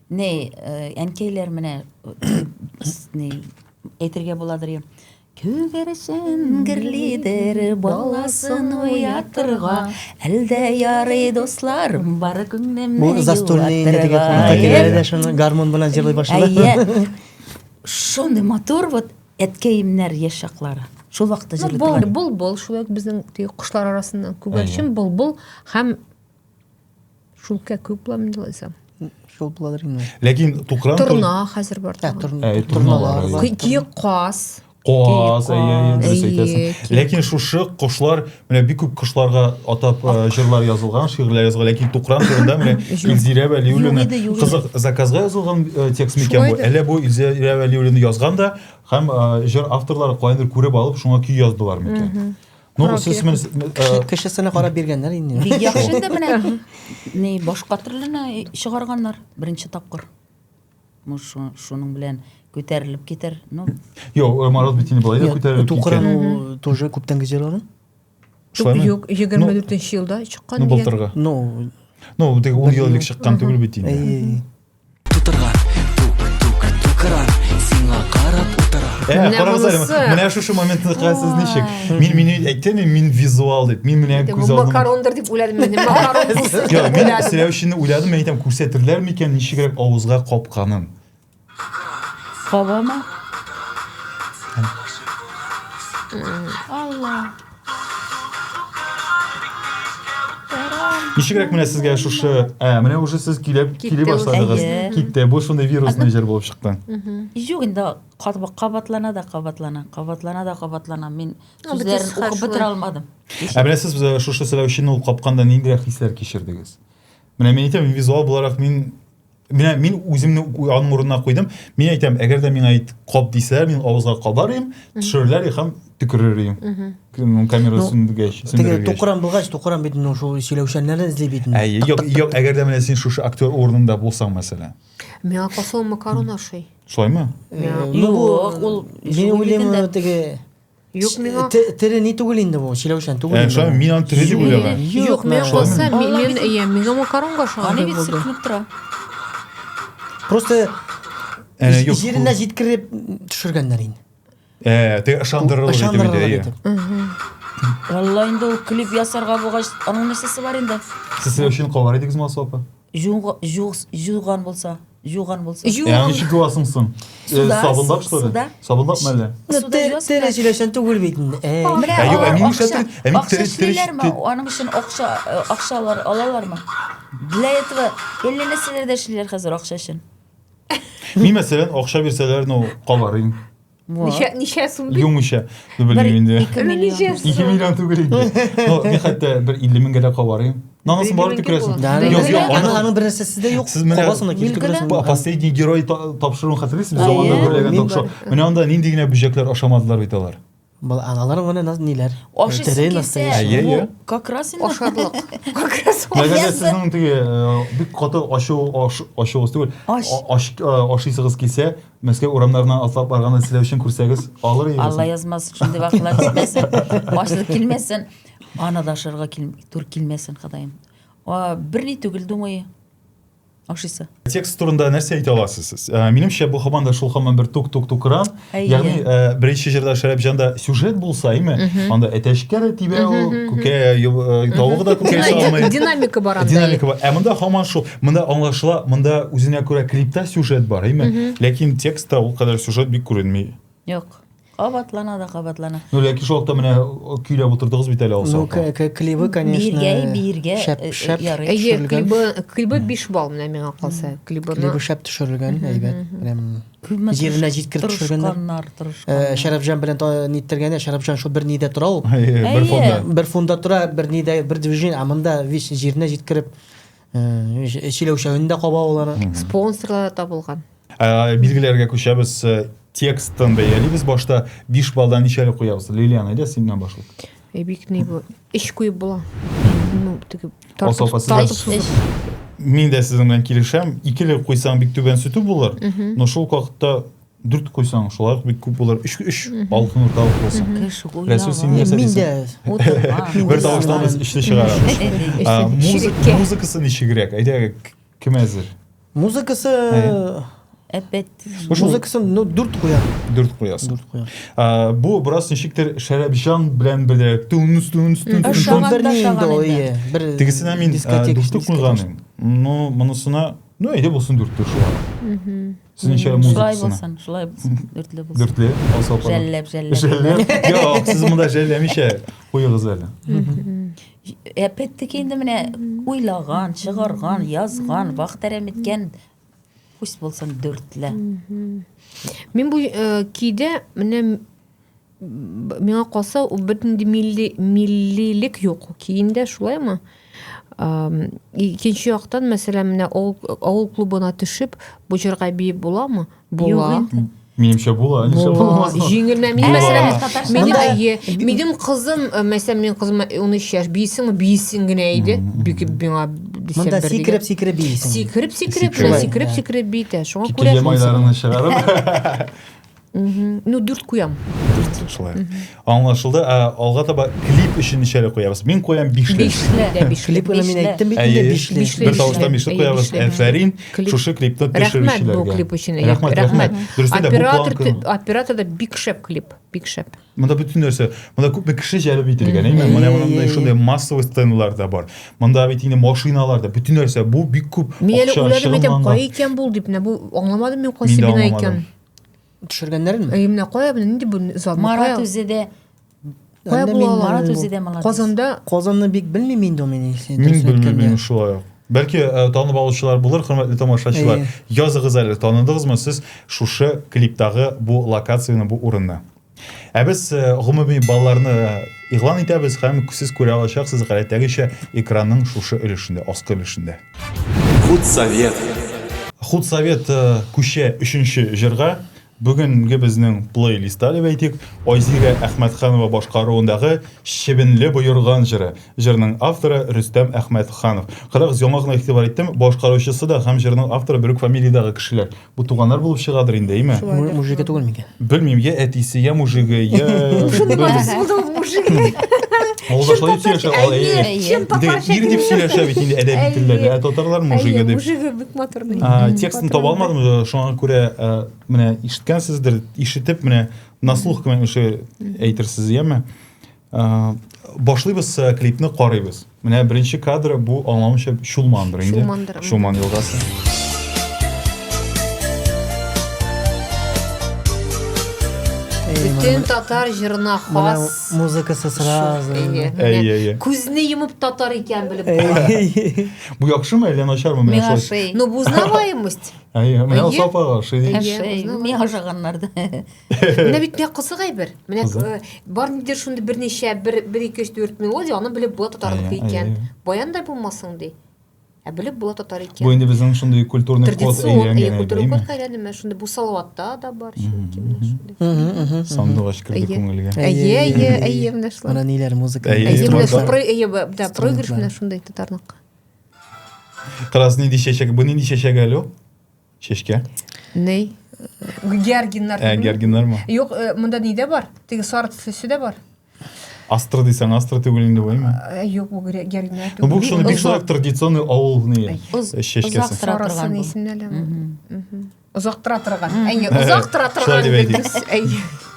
Ни, әнкәйләр менә ни әйтергә буладыр ем. Күгәрчен герлидер баласын уятырга, әлдә ярый дусларым бар күңелемне Бу застольный инде дә шуны гармон белән җырлый башлады. Әйе. Шундый матур вот әткәемнәр яшь чаклары. Шул вакытта җырлый. Бул, бул, бул, шулай безнең кошлар арасында күгәрчен, бул, бул һәм Шул күп буламы Лиза? Шул булалар инде. Ләкин тукран Торна хәзер бар. Ә, торна. Ә, торналар. Киек каз. Каз, дөрес әйтәсең. Ләкин шушы кошлар, менә бик күп кошларга атап җырлар язылган, шигырьләр язылган, ләкин тукран турында менә Илзирә Вәлиуллина кызык заказга язылган текст микән бу? Әллә бу Илзирә Вәлиуллина язган да һәм җыр авторлары кайдыр күреп алып, шуңа көй яздылар микән? Ну, сез мен кешесенә карап биргәннәр инде. Бик яхшы инде менә. Ни башка төрлене чыгарганнар беренче тапкыр. Ну, шуның белән күтәрелеп китәр. Ну. Юк, э, Марат бит инде былай да күтәрелеп китәр. Тукыран ул тоже күптән гизеләр. Шулаймы? Юк, 24 елда чыккан. Ну, былтыргы. Ну, ну, тик 10 ел элек чыккан түгел бит инде. Ә, карагыз әле, менә шушы моментны карасыз ничек. Мин мин әйттем, мин визуал дип, мин менә күз алдым. Макарондыр дип уйладым, мин макарон булсын. Йо, мин сөйләү өчен уйладым, мин әйтәм, күрсәтерләр микән ничегрәк авызга капканын. Кабама. Алла. Ничегрәк менә сезгә шушы, ә, менә уже сез килеп, кили башладыгыз. Китте. Бу шундый вирусный җыр булып чыкты. Юк, инде кабатлана да кабатлана, кабатлана да кабатлана. Мин сүзләрен укып бетерә алмадым. Ә менә сез шушы селәүчене ул капканда ниндирәк хисләр кичердегез? Менә мин әйтәм, визуал буларак мин Менә мин үземне аның урынына куйдым. Мин әйтәм, әгәр дә миңа ит кап дисәләр, мин авызга кабарыйм, төшерерләр һәм төкерер идем. Камера ну, сүндергәч, теге тукран булгач, тукран бит ну шул сөйләүчәннәрне эзли бит. Ә юк, юк, әгәр дә менә син шушы актер урынында булсаң, мәсәлән. Миңа калса макарон ашый. Шулаймы? Ну, ул мин уйлыйм, теге Юк миңа. Тере ни түгел инде бу, чиләүшән түгел. Ә шулай мин аны тере дип уйлаган. Юк, миңа калса, мин әйе, миңа макаронга шуңа дип булды. Сыпынып тора. Просто җиренә җиткереп төшергәннәр инде. Э, ты ышандырырга итеп. Валла инде ул клип ясарга булгач, аның нәрсәсе бар инде? Сез өчен калган идегез Масу апа? Җуг, җуг, җуган булса, җуган булса. Җу- Ә ничек юасың соң? Э, Суда, Сабынлап, что ли? суда. Сабынлапмы әллә? Ну, Суда тер- җуасың тере да. сөйләшән түгел бит инде. Э, Әй. Менә Ә юк, алар ә мин акча- нишләтер- ә мин акча тери- тери- эшлиләрме? тери- Аның өчен акча э, акчалар алалармы? Для этого әллә нәрсәләр дә эшлиләр хәзер акча өчен. Мин мәсәлән, акча бирсәләр, ну, кабарыйм. Ничә, ничә сум бит? Юмыша, ду белмим инде. 2 миллион. 2 миллион түгел инде. Ну, ни хәтта бер 50 меңгә дә кабарыйм. Нанасы бар дип керәсең. Юк, юк, аны аны бер нәрсәсе дә юк. Сез менә кабасына килеп керәсең. Последний герой тапшыруын хәтерлисез? Заманда бүләгән тапшыру. Менә анда нинди генә бөҗәкләр ашамадылар бит алар. Бал аналар гына наз ниләр? Ашыйсы килсә, как раз инде ашарлык. Как раз. Мәгәр сезнең теге бик каты ачу ачуыгыз түгел. Ашыйсыгыз килсә, Мәскәү урамнарына атлап барганны теләү өчен күрсәгез, алыр идегезме? Алла язмасын, шундый вакыйгалар җитмәсен, башлык килмәсен. Аны да ашарга тур килмәсен, Ходаем. Берни түгел, думаю. Ашыйсы. Текст турында нәрсә әйтә аласыз сез? Ә, минемчә, бу һаман да шул һаман бер тук-тук-тукран. Ягъни, ә, беренче җырда Шәрәпҗанда сюжет булса, име? Анда әтәчкә дә тибә ул, күкә э, тавыгы да күкә салмый. Динамика бар анда. Динамика бар. Ә монда һаман шул. Монда аңлашыла, монда үзенә күрә клипта сюжет бар, әйме? Ләкин текстта ул кадәр сюжет бик күренми. Юк. Кабатлана да кабатлана. Ну, ләкин шул вакытта менә көйләп утырдыгыз бит әле алса. Ну, клибы, конечно, биргә, биргә шәп, э, шәп, ярый. Әйе, клибы, клибы 5 балл менә миңа калса. Клибы, клибы шәп төшерелгән, әйбәт. Прям җиренә җиткереп төшергәннәр. Э, Шәрәфҗан белән ниттергәндә, Шәрәфҗан шул бер нидә тора ул. Бер фонда. Бер фонда тора, бер нидә, бер движение, а монда весь җиренә җиткереп Сөйләүчәген дә каба алар. Спонсорлар да табылган. Билгеләргә күчәбез. Текстын бәялибез. Башта 5 баллдан ничәле куябыз? Лилиан, әйдә синнән башлыйк. Эй, бик ни бу. Эш куеп була. Ну, теге тартып, тартып сузып. Мин дә сезнең белән килешәм. Икеле куйсаң бик түбән сүтү булыр. Но шул вакытта Дүрт куйсаң, шулай ук бик күп булыр. Өч, өч алтын урталык булсын. Кыш уйнавы. Рәсүл, син нәрсә Мин дә дисең? Бер тавыштан без өчтә чыгарабыз. А, музык, музыкасы ничегрәк? Әйдә, кем әзер? Музыкасы Әпәт. Музыкасын ну дүрт куя. Дүрт куясың. Дүрт куя. А, бу бераз ничектер Шәрәпҗан белән бергә тунс тунс тунс. Ә шаган да шаган инде. Бер тегесенә мин дүрт куйган. Ну, монысына, ну, әйдә булсын дүрт шулай. Сезнеңчә музыкасына. Шулай булсын, шулай булсын. Дүртле булсын. Дүртле. Алса апа. Жәлләп, жәлләп. Жәлләп. Юк, сез монда жәлләмичә куегыз әле. Әпәттек инде менә уйлаган, чыгарган, язган, вахтәрәм иткән күз булсын дүртле. Мин бу э, көйдә менә Миңа калса, ул бөтенди милли, миллилек юк киемдә, шулаймы? Икенче яктан, мәсәлән, менә авыл клубына төшеп, бу җырга биеп буламы? Була. Минемчә була, ничә булмас. Җиңелмә. Мин мәсәлән, мин әйе, минем кызым, э, мәсәлән, минем кызым 13 яшь, бисең, бисең генә иде. Бик миңа дисәм бер. Монда сикреп, сикреп бисең. Сикреп, сикреп, сикреп, сикреп битә. Шуңа күрә. Килгән майларны чыгарып. Угу. Ну, дүрт куям. Дүрт, шулай. Аңлашылды. Ә, алга таба клип өчен ничәле куябыз? Мин куям бишле. Бишле. Дә бишле. Клип уйна мин әйттем бит инде бишле. Бишле. Бер тавыштан бишле Әйе, куябыз. бишле. Әфәрин, Клип. шушы клипны Рәхмәт төшерүчеләргә. бу клип өчен. Әйе, Рәхмәт, рәхмәт. Дөрестә дә, бу Оператор, планка- тө- оператор да бик шәп клип. Бик шәп. Монда бөтен нәрсә, монда күпме кеше җәлеп ителгән, әйме? Менә Әйе, монда әйе. шундый массовый сценалар да бар. Монда бит инде машиналар да, бөтен нәрсә, бу бик күп Мин әле акча уйладым әйтәм, чыгымланган. кай икән бул дип, менә бу аңламадым мин Мин кайсы дә бина аңламадым. икән. Төшергәннәренме? Әй, менә кая, менә нинди бу зал? Марат үзе дә Кая Әллә була мин алар? Марат үзе дә молодец. Казанда Казанны бик белмим инде ул мин. Мин белмим шулай ук. Бәлки э, танып алучылар булыр, хөрмәтле тамашачылар. Языгыз әле, таныдыгызмы сез шушы клиптагы бу локацияне, бу урынны? Ә без э, гомуми балларны игълан итәбез һәм сез күрә алачаксыз гадәттәгечә экранның шушы өлешендә, аскы өлешендә. Худсовет. Худсовет э, күчә өченче җырга. Бүгенге безнең плейлистта дип әйтик, Айзирә Әхмәтханова башкаруындагы Чебенле боерган җыры. Җырның авторы Рөстәм Әхмәтханов. Кырык яңа гына игътибар иттем, башкаручысы да һәм җырның авторы бер үк фамилиядәге кешеләр. Бу туганнар булып чыгадыр инде, әйме? Шулайдыр. Мужиге түгел микән? Белмим, я әтисе, я мужиге, я... Шуның атысы булды ул мужик. Ул да шулай дип сөйләшә, ул әйе. Әйе. Чын Инде татарча ир дип сөйләшә бит инде әдәби Әйе. телдә. Ә татарлар мужиге Әйе, дип. мужиге бик матур. бит. А, Текстын таба алмадым, э, шуңа күрә э, менә ишеткәнсездер, ишетеп менә на слух кемәнше әйтерсез, яме? Башлыйбыз э, клипны карыйбыз. Менә беренче кадры бу аңламыйча Чулмандыр инде. Чулмандыр. Чулман елгасы. Бөтен татар җырына хас. Музыкасы сразу. Әйе, Күзне йомып татар икән белеп. Бу яхшымы әллә начармы менә шулай? Ну, бу узнаваемость. Әйе, менә Сапага ошый. Әйе, миңа ошаганнар да. Менә бит бик кызык әйбер. Менә э, бар нидер шундый берничә бер бер ике өч дүрт мелодия, аны белеп була татарлык икән. Баян да булмасың ди. Ә белеп була татар икән. Бу инде безнең шундый культурный код әйләнгән. Традицион культурный код әйләнде. Менә шундый бу салаватта да бар. Сандугач керде күңелгә. Әйе, әйе, әйе, менә шулай. Менә ниләр музыка. Әйе, менә шул әйе, да, проигрыш менә шундый татарлыкка. Кыраз нинди чәчәк, бу нинди чәчәк әле? Чәчкә? Ней? Гергиннар. Ә, гергиннар ма? Юк, э, монда ни дә бар? Теге сары төслесе дә бар. Астра дисәң, астра түгел инде бу, әйме? Э, юк, бу гергиннар түгел. Ну, бу шуны бик шулай традиционный авылны чәчкәсе. Озак тора торган. Исемнәле. Озак тора торган. Әйе, озак тора торган. Шулай дип әйтик.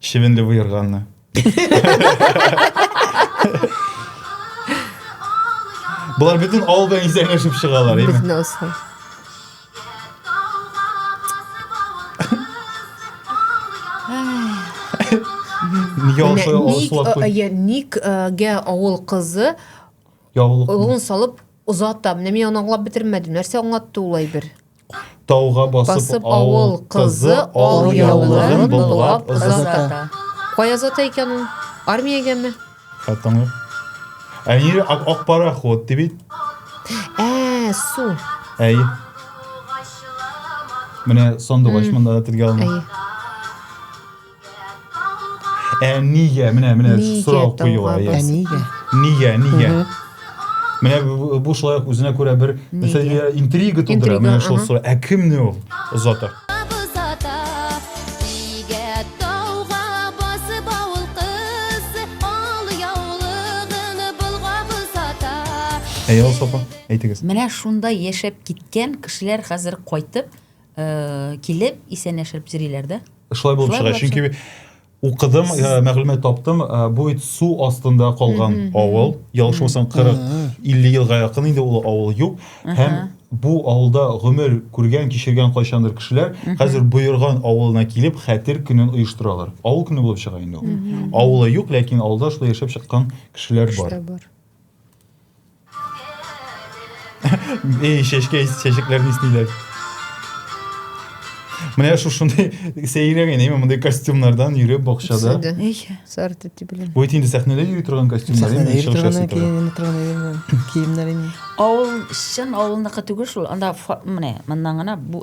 Чебенле выерганы. Болар бөтен алдан исәнләшеп чыгалар, әйме? Безне осал. Нигә алса алсылап куй? Ник, ник гә авыл кызы яулык салып озата. Менә мин аны аңлап бетермәдем. Нәрсә аңлатты ул әйбер? Тауга басып авыл кызы ал яулыгын быллап озата. Кая озата икән ул? Армиягәме? Хәтта аңлыйм. Ә ир ак, ак пароход ди бит. Ә, су. Әй. Менә сандугач монда да телгә алына. Әй. Ә нигә? Менә менә сорау куела. Ә нигә? Нигә, нигә? Менә бу шулай ук үзенә күрә бер интрига тудыра. Менә шул сорау. Ә кемне ул озата? Әйе, Алсу апа, әйтегез. Менә шунда яшәп киткән кешеләр хәзер кайтып, Килеп, исәнләшеп йөриләр дә. Шулай булып чыга, чөнки укыдым, э, мәгълүмат таптым, э, бу бит су астында калган авыл, ялгышмасам 40-50 елга якын инде ул авыл юк һәм бу авылда гомер күргән, кичергән кайчандыр кешеләр хәзер Боерган авылына килеп хәтер көнен оештыралар. Авыл көне булып чыга инде ул. Авылы юк, ләкин авылда шулай яшәп чыккан кешеләр бар. И чәчкә чәчәкләрне исниләр. Менә шул шундый сәйрәгән, әйме мондый костюмнардан йөреп бакчада. Эй, сар тәти белән. Бу инде сәхнәдә йөри торган костюмнар. Сәхнәдә йөри торган киемнәр инде. Киемнәр инде. Авыл, чын авылныкы түгел шул. Анда менә моннан гына бу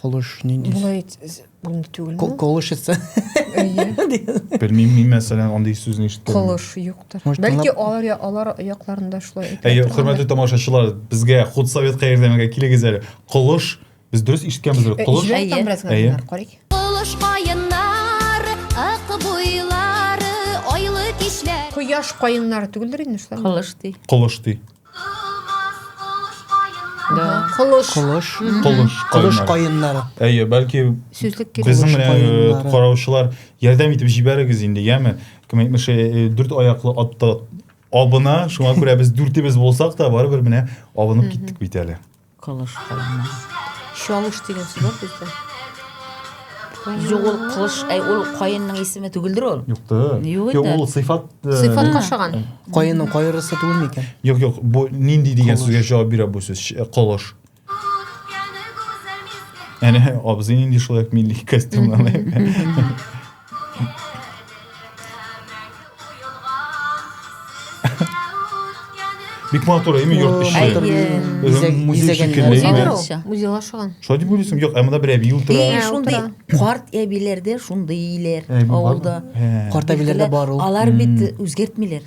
Колыш ни дис? Болай әйтсәз булмый түгелме? Ко- Колыш итсә. Белмим, мин мәсәлән андый сүзне ишеткән. Колыш юктыр. Может, Бәлки тыңлап- алар я- алар якларында шулай әйтә. Әйе, хөрмәтле тамашачылар, безгә худсоветка ярдәмгә килегез әле. Колыш, без дөрес ишеткәнбез бит. Колыш. Җибәрик Әйе. там бераз Әйе. гадәтләр, карыйк. Кылыш каеннар, ак буйлары, айлы кичләр. Кояш каеннары түгелдер инде шулай. Кылыш ди. Колыш ди. Колыш. Колыш. Колыш. Колыш каеннары. Әйе, бәлки безнең менә караучылар ярдәм итеп җибәрегез инде, яме. Кем әйтмешә, э, дүрт аяклы атта абына, шуңа күрә без дүртебез булсак та, барыбер менә абынып киттек бит әле. Кылыч калама. Чалыш дигән сүз бар бездә. Юк, ул кылыч, әй, ул каенның исеме түгелдер ул. Юк та. Юк инде. Ул сыйфат. э, Сыйфат кашаган. Каенның кайрысы түгел микән? Юк, юк, бу нинди дигән Кылыч. сүзгә җавап бирә бу сүз? Ш- э, Кылыш. Әнә абзый нинди шулай ук милли костюмнан. Бик матур әйме йорт эче. Әйе. Музей шикелле. Музейда ашаган. Шулай дип уйлыйсың? Юк, әмма бер әби утыра. Э, шундый карт әбиләрдә шундый иләр авылда. Карт әбиләрдә бар ул. Алар бит үзгәртмиләр.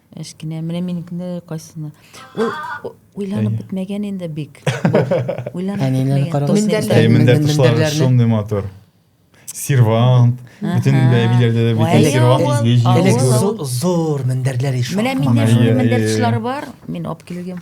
Әшкенә, менә минекендә дә кайсына. Ул уйланып бетмәгән инде бик. Уйланып бетмәгән. Мендәрләр, мендәрләр шундый матур. Сервант, бөтен әбиләрдә дә бит сервант изле җил. Зур мендәрләр ишә. Менә миндә шундый мендәр тышлары бар. Мин алып килгән.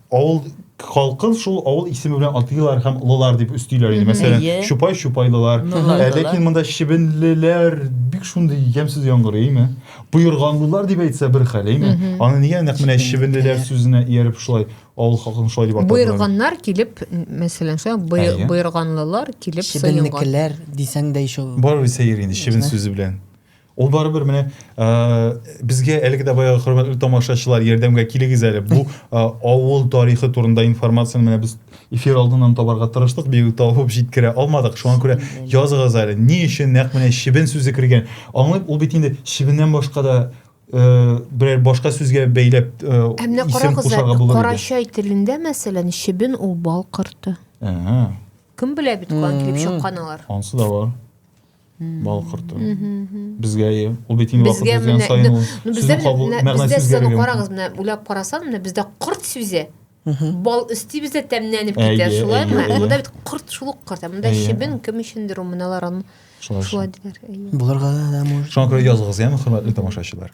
Авыл халкын шул авыл исеме белән атыйлар һәм олылар дип өстиләр иде. Мәсәлән, чупай чупайлылар. Ә ләкин монда чебенлеләр бик шундый ямьсез яңгырый, әйме? Буерганлылар дип әйтсә бер хәл, әйме? Аны нигә нәкъ менә чебенлеләр сүзенә ияреп шулай авыл халкын шулай дип атадылар? Буерганнар килеп, мәсәлән, шулай буерганлылар килеп сыенган. Чебенлекләр дисәң дә ишул. Барыбер сәер инде чебен сүзе белән. Ул барыбер менә безгә әлеге дә баягы хөрмәтле тамашачылар ярдәмгә килегез әле. Бу авыл тарихы турында информацияне менә без эфир алдыннан табарга тырыштык, бигүк табып җиткерә алмадык. Шуңа күрә языгыз әле, ни өчен нәкъ менә чебен сүзе кергән? Аңлыйм, ул бит инде чебеннән башка да берәр башка сүзгә бәйләп исем кушарга булыр иде. Карачай телендә, мәсәлән, чебен ул бал корты. Кем белә бит каян килеп чыккан алар? Ансы да бар. бал корты. Безгә ие. Ул бит инде вакыт узган саен ул сүзне кабул мәгънәсе үзгәргән. Карагыз, менә уйлап карасам, менә бездә корт сүзе бал өсти бездә тәмләнеп китә, шулаймы? Монда бит корт шул ук корт. Монда чебен кем өчендер ул моналар аны шулай диләр. Булырга да может. Шуңа күрә языгыз, яме, хөрмәтле тамашачылар.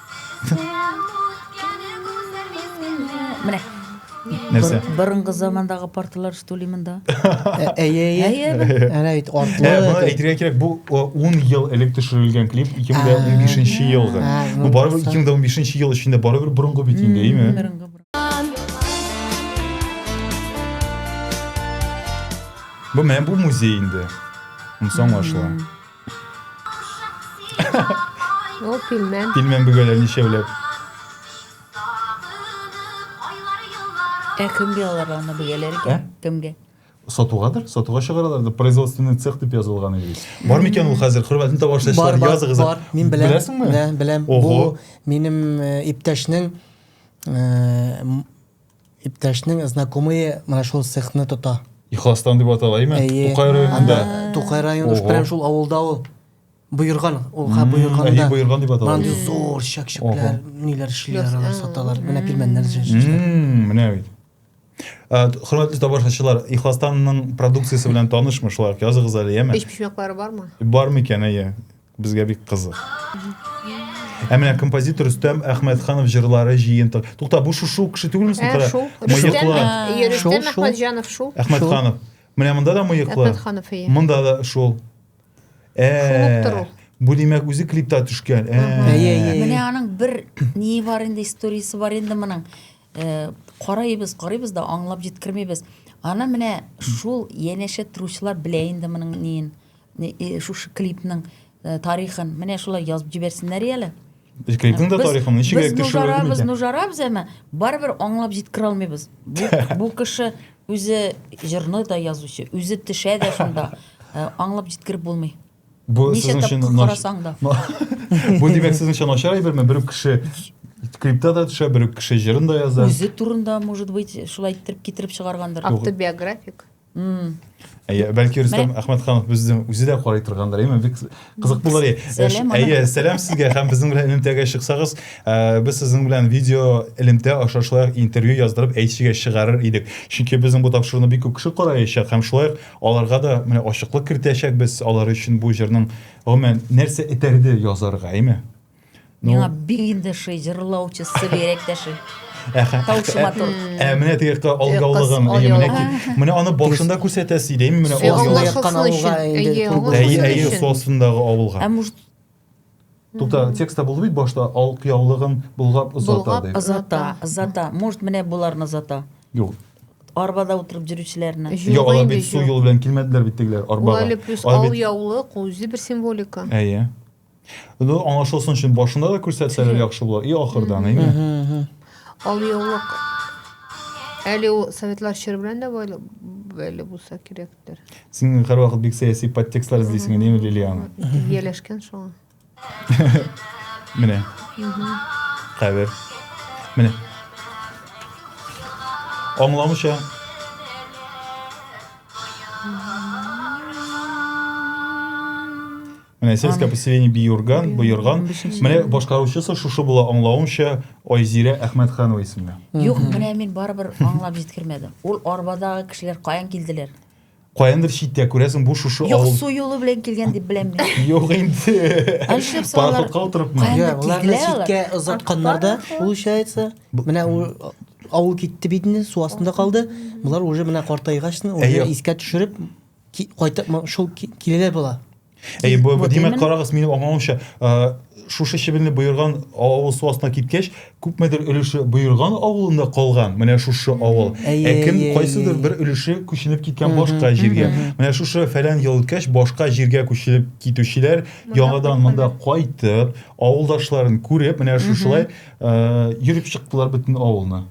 Менә. Нәрсә? Бор- Борынгы замандагы парталар что ли монда? Ә- Әйе, әйе. Әйе, бе? Әнә бит Ә, артлы. Э, моны әйтергә кирәк, бу о, 10 ел элек төшерелгән клип, 2015 елгы. А, ну, Бу барыбер просто. 2015 ел эчендә барыбер борынгы бит инде, әйме? Борынгы, борынгы. Бу менә бу музей инде. Муса аңлашыла. Ул пилмән. Пилмән бөгәләр ничәүләп. Ә кемгә алар аны бөгәләр икән? Ә? Кемгә? Сатугадыр, сатуга чыгаралар да производственный цех дип язылган иде бит. Бар микән ул хәзер? Хөрмәтен таба эшләүчеләр языгыз. Бар, мин беләм. Беләсеңме? Беләм, беләм. Бу минем э, иптәшнең э, Иптәшнең знакомые менә шул цехны тота. Ихластан дип атала, әйме? Әйе. Тукай районында. Анда Тукай районы, Ого. прям шул авылда ул. Боерган, ул ха Мм, буерганда. әйе, Боерган дип атала. Мынандый зур чәкчәкләр, ниләр эшлиләр, Яс- алар а. саталар. Менә пилмәннәр җырлар. Мм, Менә бит. Ә, т- Хөрмәтле тамашачылар, Ихластанның продукциясе белән танышмы шулай ук? Языгыз әле, яме? Өч почмаклары бармы? Бар микән, әйе. Безгә бик кызык. Ә менә композитор Рөстәм Әхмәтханов җырлары җыентык. Тукта, бу шушы ук кеше түгелме соң? Кара. Мыеклы. Рөстәм Әхмәтҗанов шул. Әхмәтханов. Менә монда да мыеклы. Әхмәтханов ие. Монда да шул. Э. Бу димәк үзе клипта төшкән. Э. Менә аның бер ни бар инде, историясе бар инде моның. Э, карыйбыз, карыйбыз да аңлап җиткермибез. Аны менә шул янәшә торучылар белә инде моның ниен. Шушы клипның тарихын менә шулай язып җибәрсеннәр әле. Без клипның да тарихын ничек яктыртып Без нужарабыз, нужарабыз, әмма барыбер аңлап җиткерә алмыйбыз. Бу кеше үзе җырны да язучы, үзе төшә дә шунда. Э, аңлап җиткереп булмый. Бу сезнең өчен карасаң да. Бу димәк сезнең өчен начар әйберме? Бер кеше клипта да төшә, бер кеше җырын да яза. Үзе турында, может быть, шулай иттереп китереп чыгаргандыр. Автобиографик. Әйе, бәлки Рөстәм Әхмәтханов безнең үзе дә карый торгандыр. Әйе, бик кызык булыр. Әйе, сәлам сезгә һәм безнең белән элемтәгә чыксагыз, э, без сезнең белән видео элемтә аша шулай интервью яздырып әйтшегә чыгарыр идек. Чөнки безнең бу тапшыруны бик күп кеше караячак һәм шулай аларга да менә ачыклык кертәчәкбез алар өчен бу җырның гомумән нәрсә этәрде язарга, әйме? Миңа бик инде ши җырлаучы субъект дәши. Таучы матур. Ә менә теге алгаулыгын, менә менә аны башында күрсәтәсе иде, менә алгаулы яккан авылга инде. Әйе, әйе, сосындагы авылга. Ә может Тукта, текстта булды бит башта ал кыяулыгын болгап озата дип. Озата, озата. Может, менә буларны озата. Юк. Арбада утырып жүрүчеләрне. Юк, алар бит су юлы белән килмәделәр бит тегеләр арбага. Ул әле плюс ал яулык, үзе бер символика. Әйе. Ну, аңлашылсын өчен башында да күрсәтсәләр яхшы була. И ахырдан, әйме? Ал яулык. Әле ул советлар чоры белән дә байлы әле булса кирәктер. Син һәрвакыт бик сәяси подтекстлар эзлисең, әйме, Лилиана? Ияләшкән шуңа. Менә. Кабер. Менә. Аңламыйча Менә сельское поселение Биюрган, Боерган. Менә башкаручысы шушы була аңлавымча Айзирә Әхмәтханова исемле. Юк, менә мин барыбер аңлап җиткермәдем. Ул арбадагы кешеләр каян килделәр? Каяндыр читтә күрәсең, бу шушы авыл. Юк, су юлы белән килгән дип беләм мин. Юк инде. Әлшеп салар. Пароходка утырыпмы? Йә, алар читкә озатканнар да, получается. Менә ул авыл китте бит инде, су астында калды. Булар уже менә картайгачны, уже искә төшереп Ки, кайтып шул киләләр була. Әй, бу, бу димәк, карагыз, минем аңлавымча, шушы чебенле боерган авыл су астына киткәч, күпмедер өлеше боерган авылында калган, менә шушы авыл. Ә кем кайсыдыр бер өлеше күченеп киткән башка җиргә. Менә шушы фәлән ел үткәч, башка җиргә күченеп китүчеләр яңадан монда кайтып, авылдашларын күреп, менә шушылай йөреп чыктылар бөтен авылны.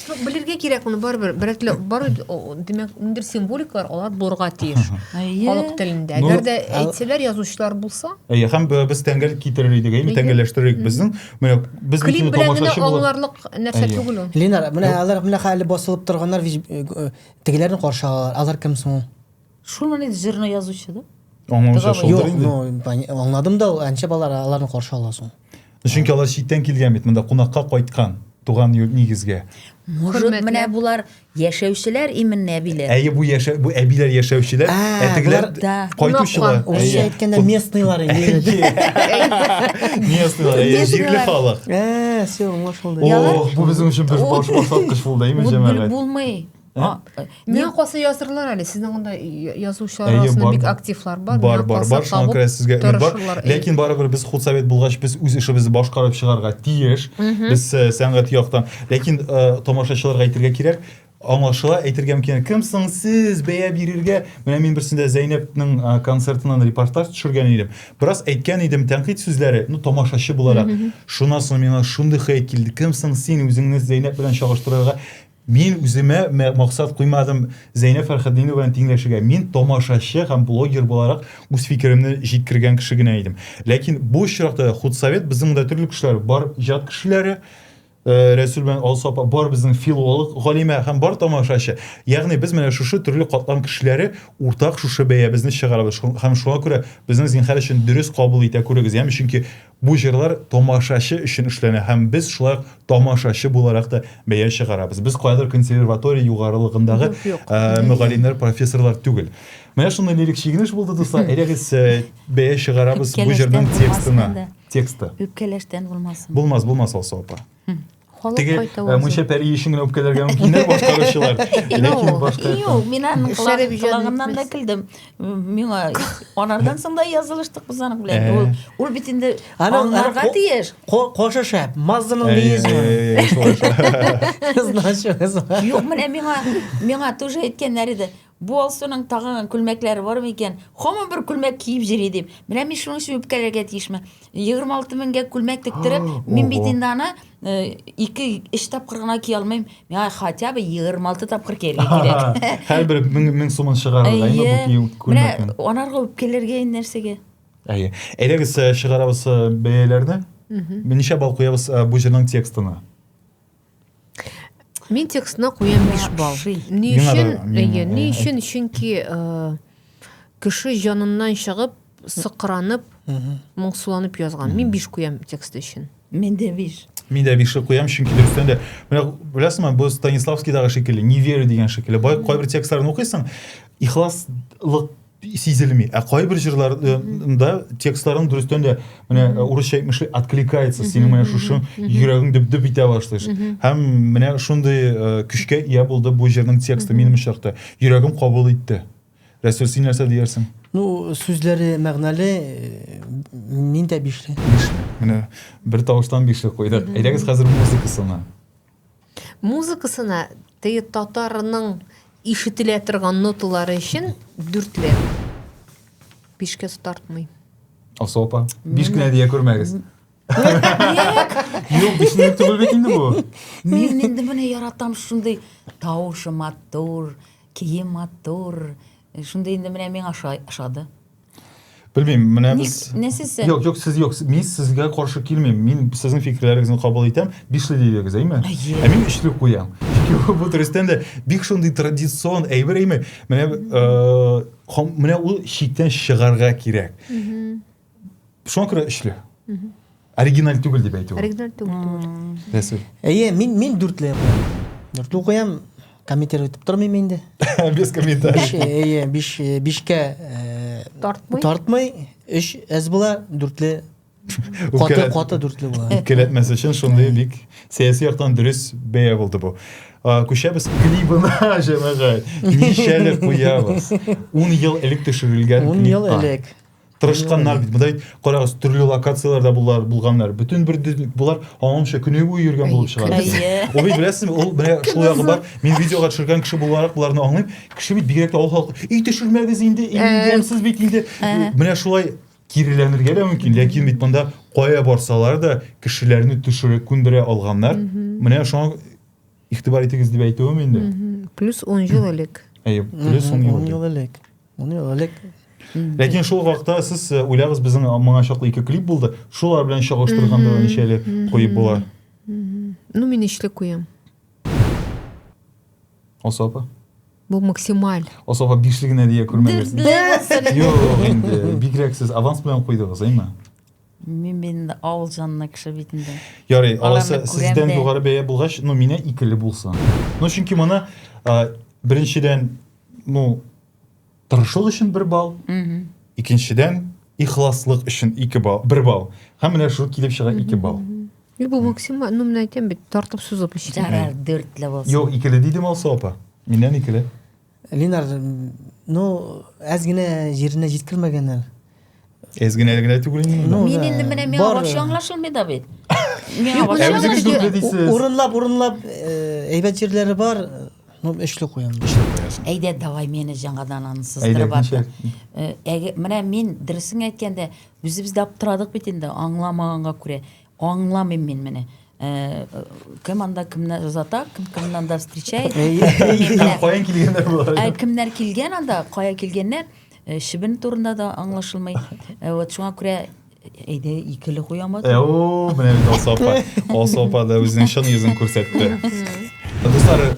Ну, белергә кирәк моны барыбер. Берәтле бар димәк, ниндер символикалар алар булырга тиеш. Халык телендә. Әгәр дә әйтсәләр язучылар булса. Әйе, һәм без тәңгәл китерер идек, әйе, тәңгәлләштерер идек безнең. Менә без клип белән генә аңларлык нәрсә түгел ул. Ленар, менә алар менә хәле басылып торганнар, тегеләрне каршы алалар. Алар кем соң? Шуны не жирно язучы, да? Аңлаучы Договор. шулдыр Юк, инде. ну, поня- аңладым да, әнчә балар аларны каршы ала соң. Чөнки алар читтән килгән бит, монда кунакка кайткан, туган йорт нигезгә. Может, Хөрмәтле. менә булар яшәүчеләр именно әбиләр. Әйе, бу яшә бу әбиләр яшәүчеләр, А, ә тегеләр болар- да. кайтучылар. Кунакка. Урысча Әйе. әйткәндә местныйлар инде. Местныйлар, әйе, Местныйлар. җирле халык. Ә, все, аңлашылды. Ялар- О, бу безнең өчен бер баш басаткыч булды, әйме, Вот бер җәмәгать? булмый. А, э, не касы язырлар әле сезнең монда язучылар арасында бик активлар бар бар бар бар шуңа күрә сезгә өмет бар ләкин барыбер без худсовет булгач без үз эшебезне башкарып чыгарга тиеш без э, сәнгать яктан ләкин э, тамашачыларга әйтергә кирәк аңлашыла әйтергә мөмкин кем соң сез бәя бирергә менә мин берсендә зәйнәпнең э, концертыннан репортаж төшергән идем бераз әйткән идем тәнкыйть сүзләре ну тамашачы буларак шуннан соң миңа шундый хәйт килде кем соң син үзеңне зәйнәп белән чагыштырырга Мин үземә максат куймадым Зәйнә Фәрхәтдинованы тиңләшергә. Мин тамашачы һәм блогер буларак үз фикеремне җиткергән кеше генә идем. Ләкин бу очракта худсовет безнең монда төрле кешеләр бар, иҗат кешеләре, э, Рәсүл белән Алсу апа, бар безнең филолог, галимә һәм бар тамашачы. Ягъни без менә шушы төрле катлам кешеләре уртак шушы бәябезне чыгарабыз. Һәм шуңа күрә безнең зинһар өчен дөрес кабул итә күрегез, яме чөнки Бу җырлар тамашачы өчен эшләнә һәм без шулай ук тамашачы буларак та бәя чыгарабыз. Без каядыр консерватория югарылыгындагы мөгаллимнәр, профессорлар түгел. Менә шундый лирик чигенеш булды, дуслар. Әйдәгез, бәя чыгарабыз бу җырның текстына. Тексты. Үпкәләштән булмасын. Булмас, булмас, Алсу апа. Теге э, Мунча пәри өчен генә үпкәләргә мөмкиннәр башкаручылар. Ләкин башка Юк, мин аның колагыннан да килдем. Миңа анардан соң да язылыштык без аның белән. Э. Ул ул бит инде аңларга тиеш. Кошы шәп, мазының лизмы. Значит, юк, менә миңа миңа тоже әйткәннәр иде. Бу Алсуның тагыган күлмәкләре бармы икән? Хаман бер күлмәк киеп җөри, дим. Менә мин шуның өчен үпкәләргә тиешме? Егерме алты меңгә күлмәк тектереп, мин бит инде аны ике, өч тапкыр гына кия алмыйм. Миңа хотя бы егерме алты тапкыр кияргә кирәк. Һәрбер мең, мең сумын чыгарырга инде бу кием күлмәкне. Менә анарга үпкәләргә инде нәрсәгә? Әйе. Әйдәгез чыгарабыз бәяләрне. Ничә балл куябыз бу җырның текстына? Мин текстына куям 5 балл. Ни өчен? Әйе, ни өчен? Чөнки э, кеше җаныннан чыгып, сыкранып, моңсуланып язган. Мин 5 куям текст өчен. Мин дә биш. Мин дә биш куям, чөнки дөрестән дә. Менә беләсеңме, бу Станиславскийдагы шикелле, не верю дигән шикелле. Бай кайбер текстларын укыйсың, ихласлык сизелми. Ә кайбер җырларында текстларын дөрестән дә менә э, урысча әйтмешли откликается синең менә шушы йөрәгең дөп-дөп итә башлыйш. Һәм менә шундый э, көчкә ия булды бу җырның тексты минем очракта. Йөрәгем кабул итте. Рәсүл, син нәрсә диярсең? Ну, сүзләре мәгънәле, э, мин дә бишле. Менә бер тавыштан бишле куйдык. Әйдәгез хәзер музыкасына. Музыкасына теге татарның ишетелә торган ноталары өчен дүртле. Бишкә тартмый. Алсу апа, биш кенә дия күрмәгез. Юк, биш минут түгел бит инде бу. Мин инде менә яратам шундый тавышы матур, кием матур. Шундый инде менә миңа ошады. Белмим, менә без Не сез? Юк, юк, сез юк. Мин сезгә каршы килмим. Мин сезнең фикерләрегезне кабул итәм. Бишле дидегез, әйме? Ә мин өчле куям. Чөнки бу дөрестән дә бик шундый традицион әйбер, әйме? Менә э, менә ул чиктән чыгарга кирәк. Шуңа күрә өчле. Оригиналь түгел дип әйтү. Оригиналь түгел түгел. Рәсүл. Әйе, мин мин дүртле укыям. Дүртле укыям, комментировать итеп тормыйм инде. Без комментарий. Биш, әйе, биш, бишкә э, тартмый. Тартмый, өч әз була, дүртле каты каты дүртле була. Үпкәләтмәс өчен шундый бик сәяси яктан дөрес бәя булды бу. Күчәбез клибына, җәмәгать. Ничәле куябыз. 10 ел элек төшерелгән клип. 10 ел элек. тырышканнар бит монда бит карагыз төрле локацияләрдә булар булганнар бөтен бер болар аныңча көне буе йөргән булып чыга ул бит беләсезме ул менә шул ягы бар мин видеога төшергән кеше буларак боларны аңлыйм кеше бит бигрәк тә авыл халкы өй төшермәгез инде имгәнсез бит инде менә шулай киреләнергә дә мөмкин ләкин бит монда кая барсалар да кешеләрне төшереп күндерә алганнар менә шуңа игътибар итегез дип әйтүем инде плюс он ел элек әйе плюс он ел элек Моны элек Ләкин шул вакытта сез э, уйлагыз безнең моңа чаклы ике клип булды. Шулар белән чагыштырганда ничәле куеп була? Ну, мин ишле куям. Асапа. Бу максималь. Асапа бишле генә дия күрмәгез. Юк, инде бигрәк сез аванс белән куйдыгыз, әйме? Мин инде авыл җанына кеше бит инде. Ярый, аласы сездән югары бәя булгач, ну, мине икеле булсын. Ну, чөнки моны беренчедән Ну, тырышлык өчен бер балл. Икенчедән, ихласлык өчен ике балл, бер балл. Һәм менә шул килеп чыга ике балл. И бу максимум, ну менә әйтәм бит, тартып сузып эчә. Ярар, дүртле булсын. Юк, икеле дидем алса апа. Миннән икеле. Линар, ну, әз генә җиренә җиткермәгәннәр. Ezginaya генә түгел инде. Ну, Мин да. инде менә миңа Бар. вообще аңлашылмый да бит. Миңа Юк, вообще менә Үзегез үзегез дүртле дисез. Урынлап, урынлап э, әйбәт җирләре бар. э, Ну, өчле куям. Әйдә, давай мені жаңадан аны сыздырып Әйдә, атты. Э, әге- Менә мин дөресен әйткәндә, үзебез дә аптырадык бит инде, аңламаганга күрә. Аңламыйм мин менә. Кем анда кемнәр озата, кем кемнән анда встречает. Каян килгәннәр болар? Ә кемнәр килгән анда, кая килгәннәр? Шибен турында да аңлашылмый. Вот шуңа күрә әйдә икеле куямыз. О, менә бит Алсапа. Алсапа да үзенең чын йөзен күрсәтте. Дуслар,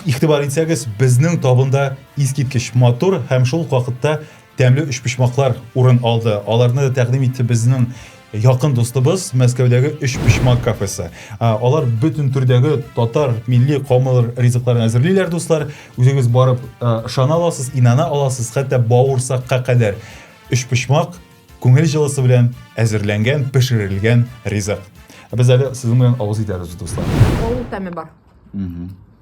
игътибар итсәгез, безнең табында искиткеч матур һәм шул вакытта Тәмле өчпочмаклар урын алды. Аларны да тәкъдим итте безнең якын дустыбыз Мәскәүдәге Өчпочмак кафесы. Алар бөтен төрдәге татар милли каумалар ризыкларын әзерлиләр, дуслар. Үзегез барып ышана аласыз, инана аласыз, хәтта бавырсакка кадәр. Өчпочмак күңел җылысы белән әзерләнгән, пешерелгән ризык. Без әле сезнең белән авыз итәрбез, дуслар. Авыл тәме бар.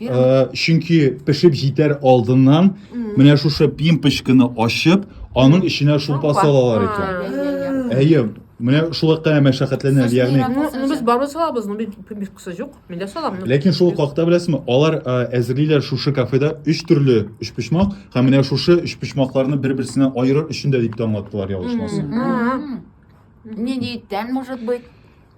Э, чөнки пешеп җитәр алдыннан менә шушы пимпочканы ачып, аның эченә шулпа салалар икән. Әйе, менә шулай кына мәшәкатьләнә, ягъни. Ну без барыбер салабыз, ну пимпочкасы юк. Мин дә салам. Ләкин шул хакта беләсезме, алар э, әзерлиләр шушы кафеда өч төрле өчпочмак һәм менә шушы өчпочмакларны бер-берсеннән аерыр өчен дә дип тә аңлаттылар, ялгышмасам. Нинди иттән, может быть?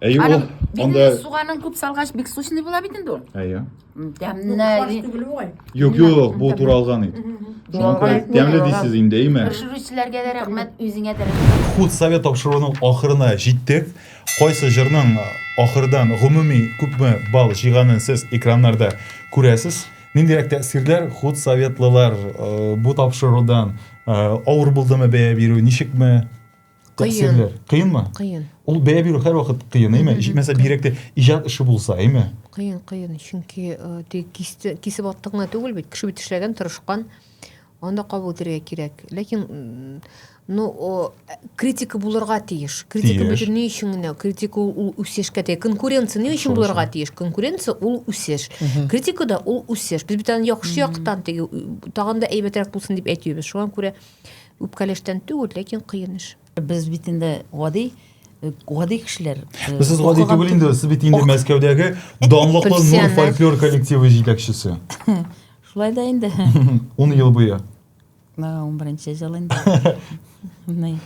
Әйе, ул Аның, бит анда... инде суганын күп салгач, бик сочный була бит инде ул. Әйе. М, Квас Тәмне. түгел бугай. Юк, юк, бу туралган ит. Шуңа күрә Туралган, тәмле туралган. дисез инде, әйме? Пешерүчеләргә дә рәхмәт, үзеңә дә рәхмәт. Худ совет тапшыруының ахырына җиттек. Кайсы җырның ахырдан гомуми күпме балл җыйганын сез экраннарда күрәсез. Ниндирәк тәэсирләр худ советлылар э, бу тапшырудан э, авыр булдымы бәя бирү, ничекме? Тәэсирләр. Кыенмы? Кыен. Ул бәя бирү һәрвакыт кыен, әйме? Мәсәлән, бигрәк тә иҗат эше булса, әйме? Кыен, кыен. Чөнки тик кисте, кисеп аттың гына түгел бит. Кеше бит эшләгән, тырышкан. Анда кабул итәргә кирәк. Ләкин ну, о, критика булырга тиеш. Критика бит ни өчен генә? Критика ул үсешкә тиеш. Конкуренция ни өчен булырга тиеш? Конкуренция ул үсеш. Критика да ул үсеш. Без бит аны яхшы яктан, тагын да әйбәтрәк булсын дип әйтәбез. Шуңа күрә Үпкәләштән түгел, ләкин кыен эш. Без бит инде гади гади кешеләр. Э, сез гади түгел инде, сез бит инде Мәскәүдәге данлыклы Нур фольклор коллективы җитәкчесе. Шулай да инде. 10 ел буе. На 11 ел инде. Менә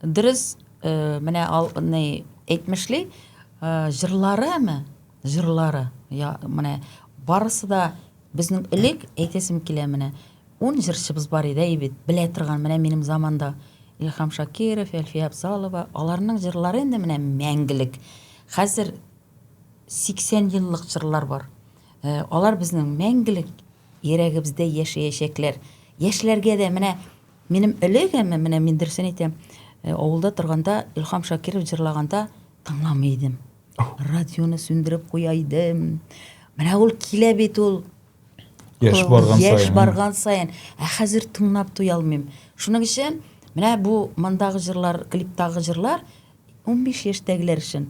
дөрес, э, менә ал не әйтмешли, э, җырлары әме, җырлары. Я, менә барысы да Безнең элек, әйтәсем килә, менә ун җырчыбыз бар иде, әй бит, белә торган, менә минем заманда Илһам Шакиров, Әлфия Абзалова, аларның җырлары инде менә мәңгелек. Хәзер 80 еллык җырлар бар. Э, алар безнең мәңгелек йөрәгебездә яшәячәкләр. Яшьләргә дә менә минем элегеме, менә мин дөресен әйтәм, э, авылда торганда Илһам Шакиров җырлаганда тыңламый идем. радионы сүндереп куя идем менә ул килә бит ул яшь барган саен яшь барган саен ә хәзер тыңлап туя алмыйм шуның өчен менә бу мондагы җырлар клиптагы җырлар унбиш яшьтәгеләр өчен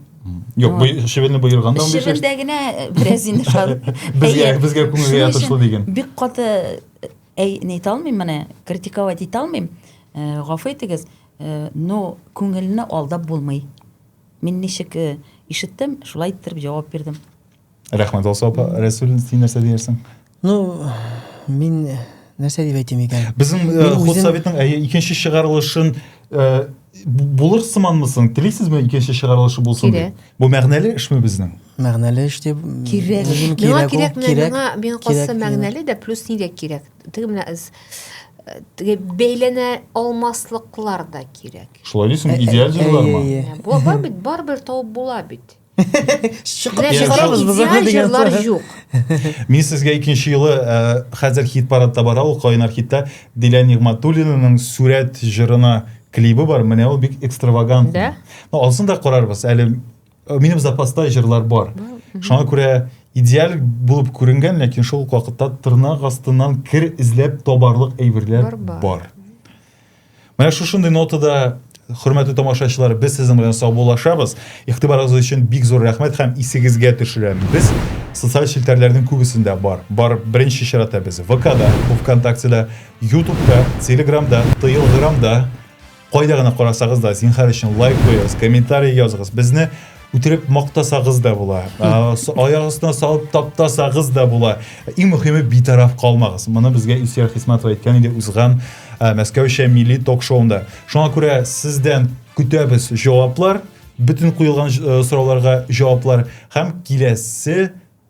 Юк, бу шевелне боерган да Шевелдә генә э, бераз инде шал. Безгә безгә күңелгә ятышлы дигән. Бик каты э, әй не итә алмыйм менә, критиковать итә алмыйм. Э, гафу итегез, но күңелне алдап булмый. Мин ничек ишеттем, шулай иттереп җавап бирдем. Рәхмәт, Алсу апа. Рәсүл, син нәрсә диярсең? Ну, мин нәрсә дип әйтим икән? Безнең э, ход советның әйе икенче чыгарылышын э, булыр сыманмысың? Телисезме икенче чыгарылышы булсын дип? Бу мәгънәле эшме безнең? Мәгънәле эш дип кирәк. Миңа кирәкме? Миңа мин касы мәгънәле дә плюс нигә кирәк? Теге менә эз э, теге бәйләнә алмаслыклар да кирәк. Шулай дисең, Ә- идеаль ә- җырлармы? әйе, әйе. Бу бар бит, барыбер табып була бит. Чыгып Менә чыгарабыз чыгарабыз без идеаль аны дигән җырлар сүз. юк. Мин сезгә икенче юлы э, хәзер хит парадта бара ул кайнар хитта Диля Нигматуллинаның Сүрәт җырына клибы бар. Менә ул бик экстравагант. Да? Ну, алсын да карарбыз. Әле Э, минем запаста җырлар бар шуңа күрә идеаль булып күренгән ләкин шул ук вакытта тырнак астыннан кер эзләп табарлык әйберләр бар менә шушындый нотада хөрмәтле тамашачылар без сезнең белән саубуллашабыз игътибарыгыз өчен бик зур рәхмәт һәм исегезгә төшерәбез без социаль челтәрләрнең күбесендә бар бар беренче чиратта без вкда вконтактеда ютубта телеграмда тыелграмда Кайда гына карасагыз да, зинхар өчен лайк куегыз, комментарий языгыз. Безне үтереп мактасагыз да була. Аяк астына салып таптасагыз да була. Иң мөһиме битараф калмагыз. Моны безгә Исер Хисматова әйткән иде узган Мәскәүчә милли ток-шоунда. Шуңа күрә сездән көтәбез җаваплар, бөтен куелган сорауларга җаваплар һәм киләсе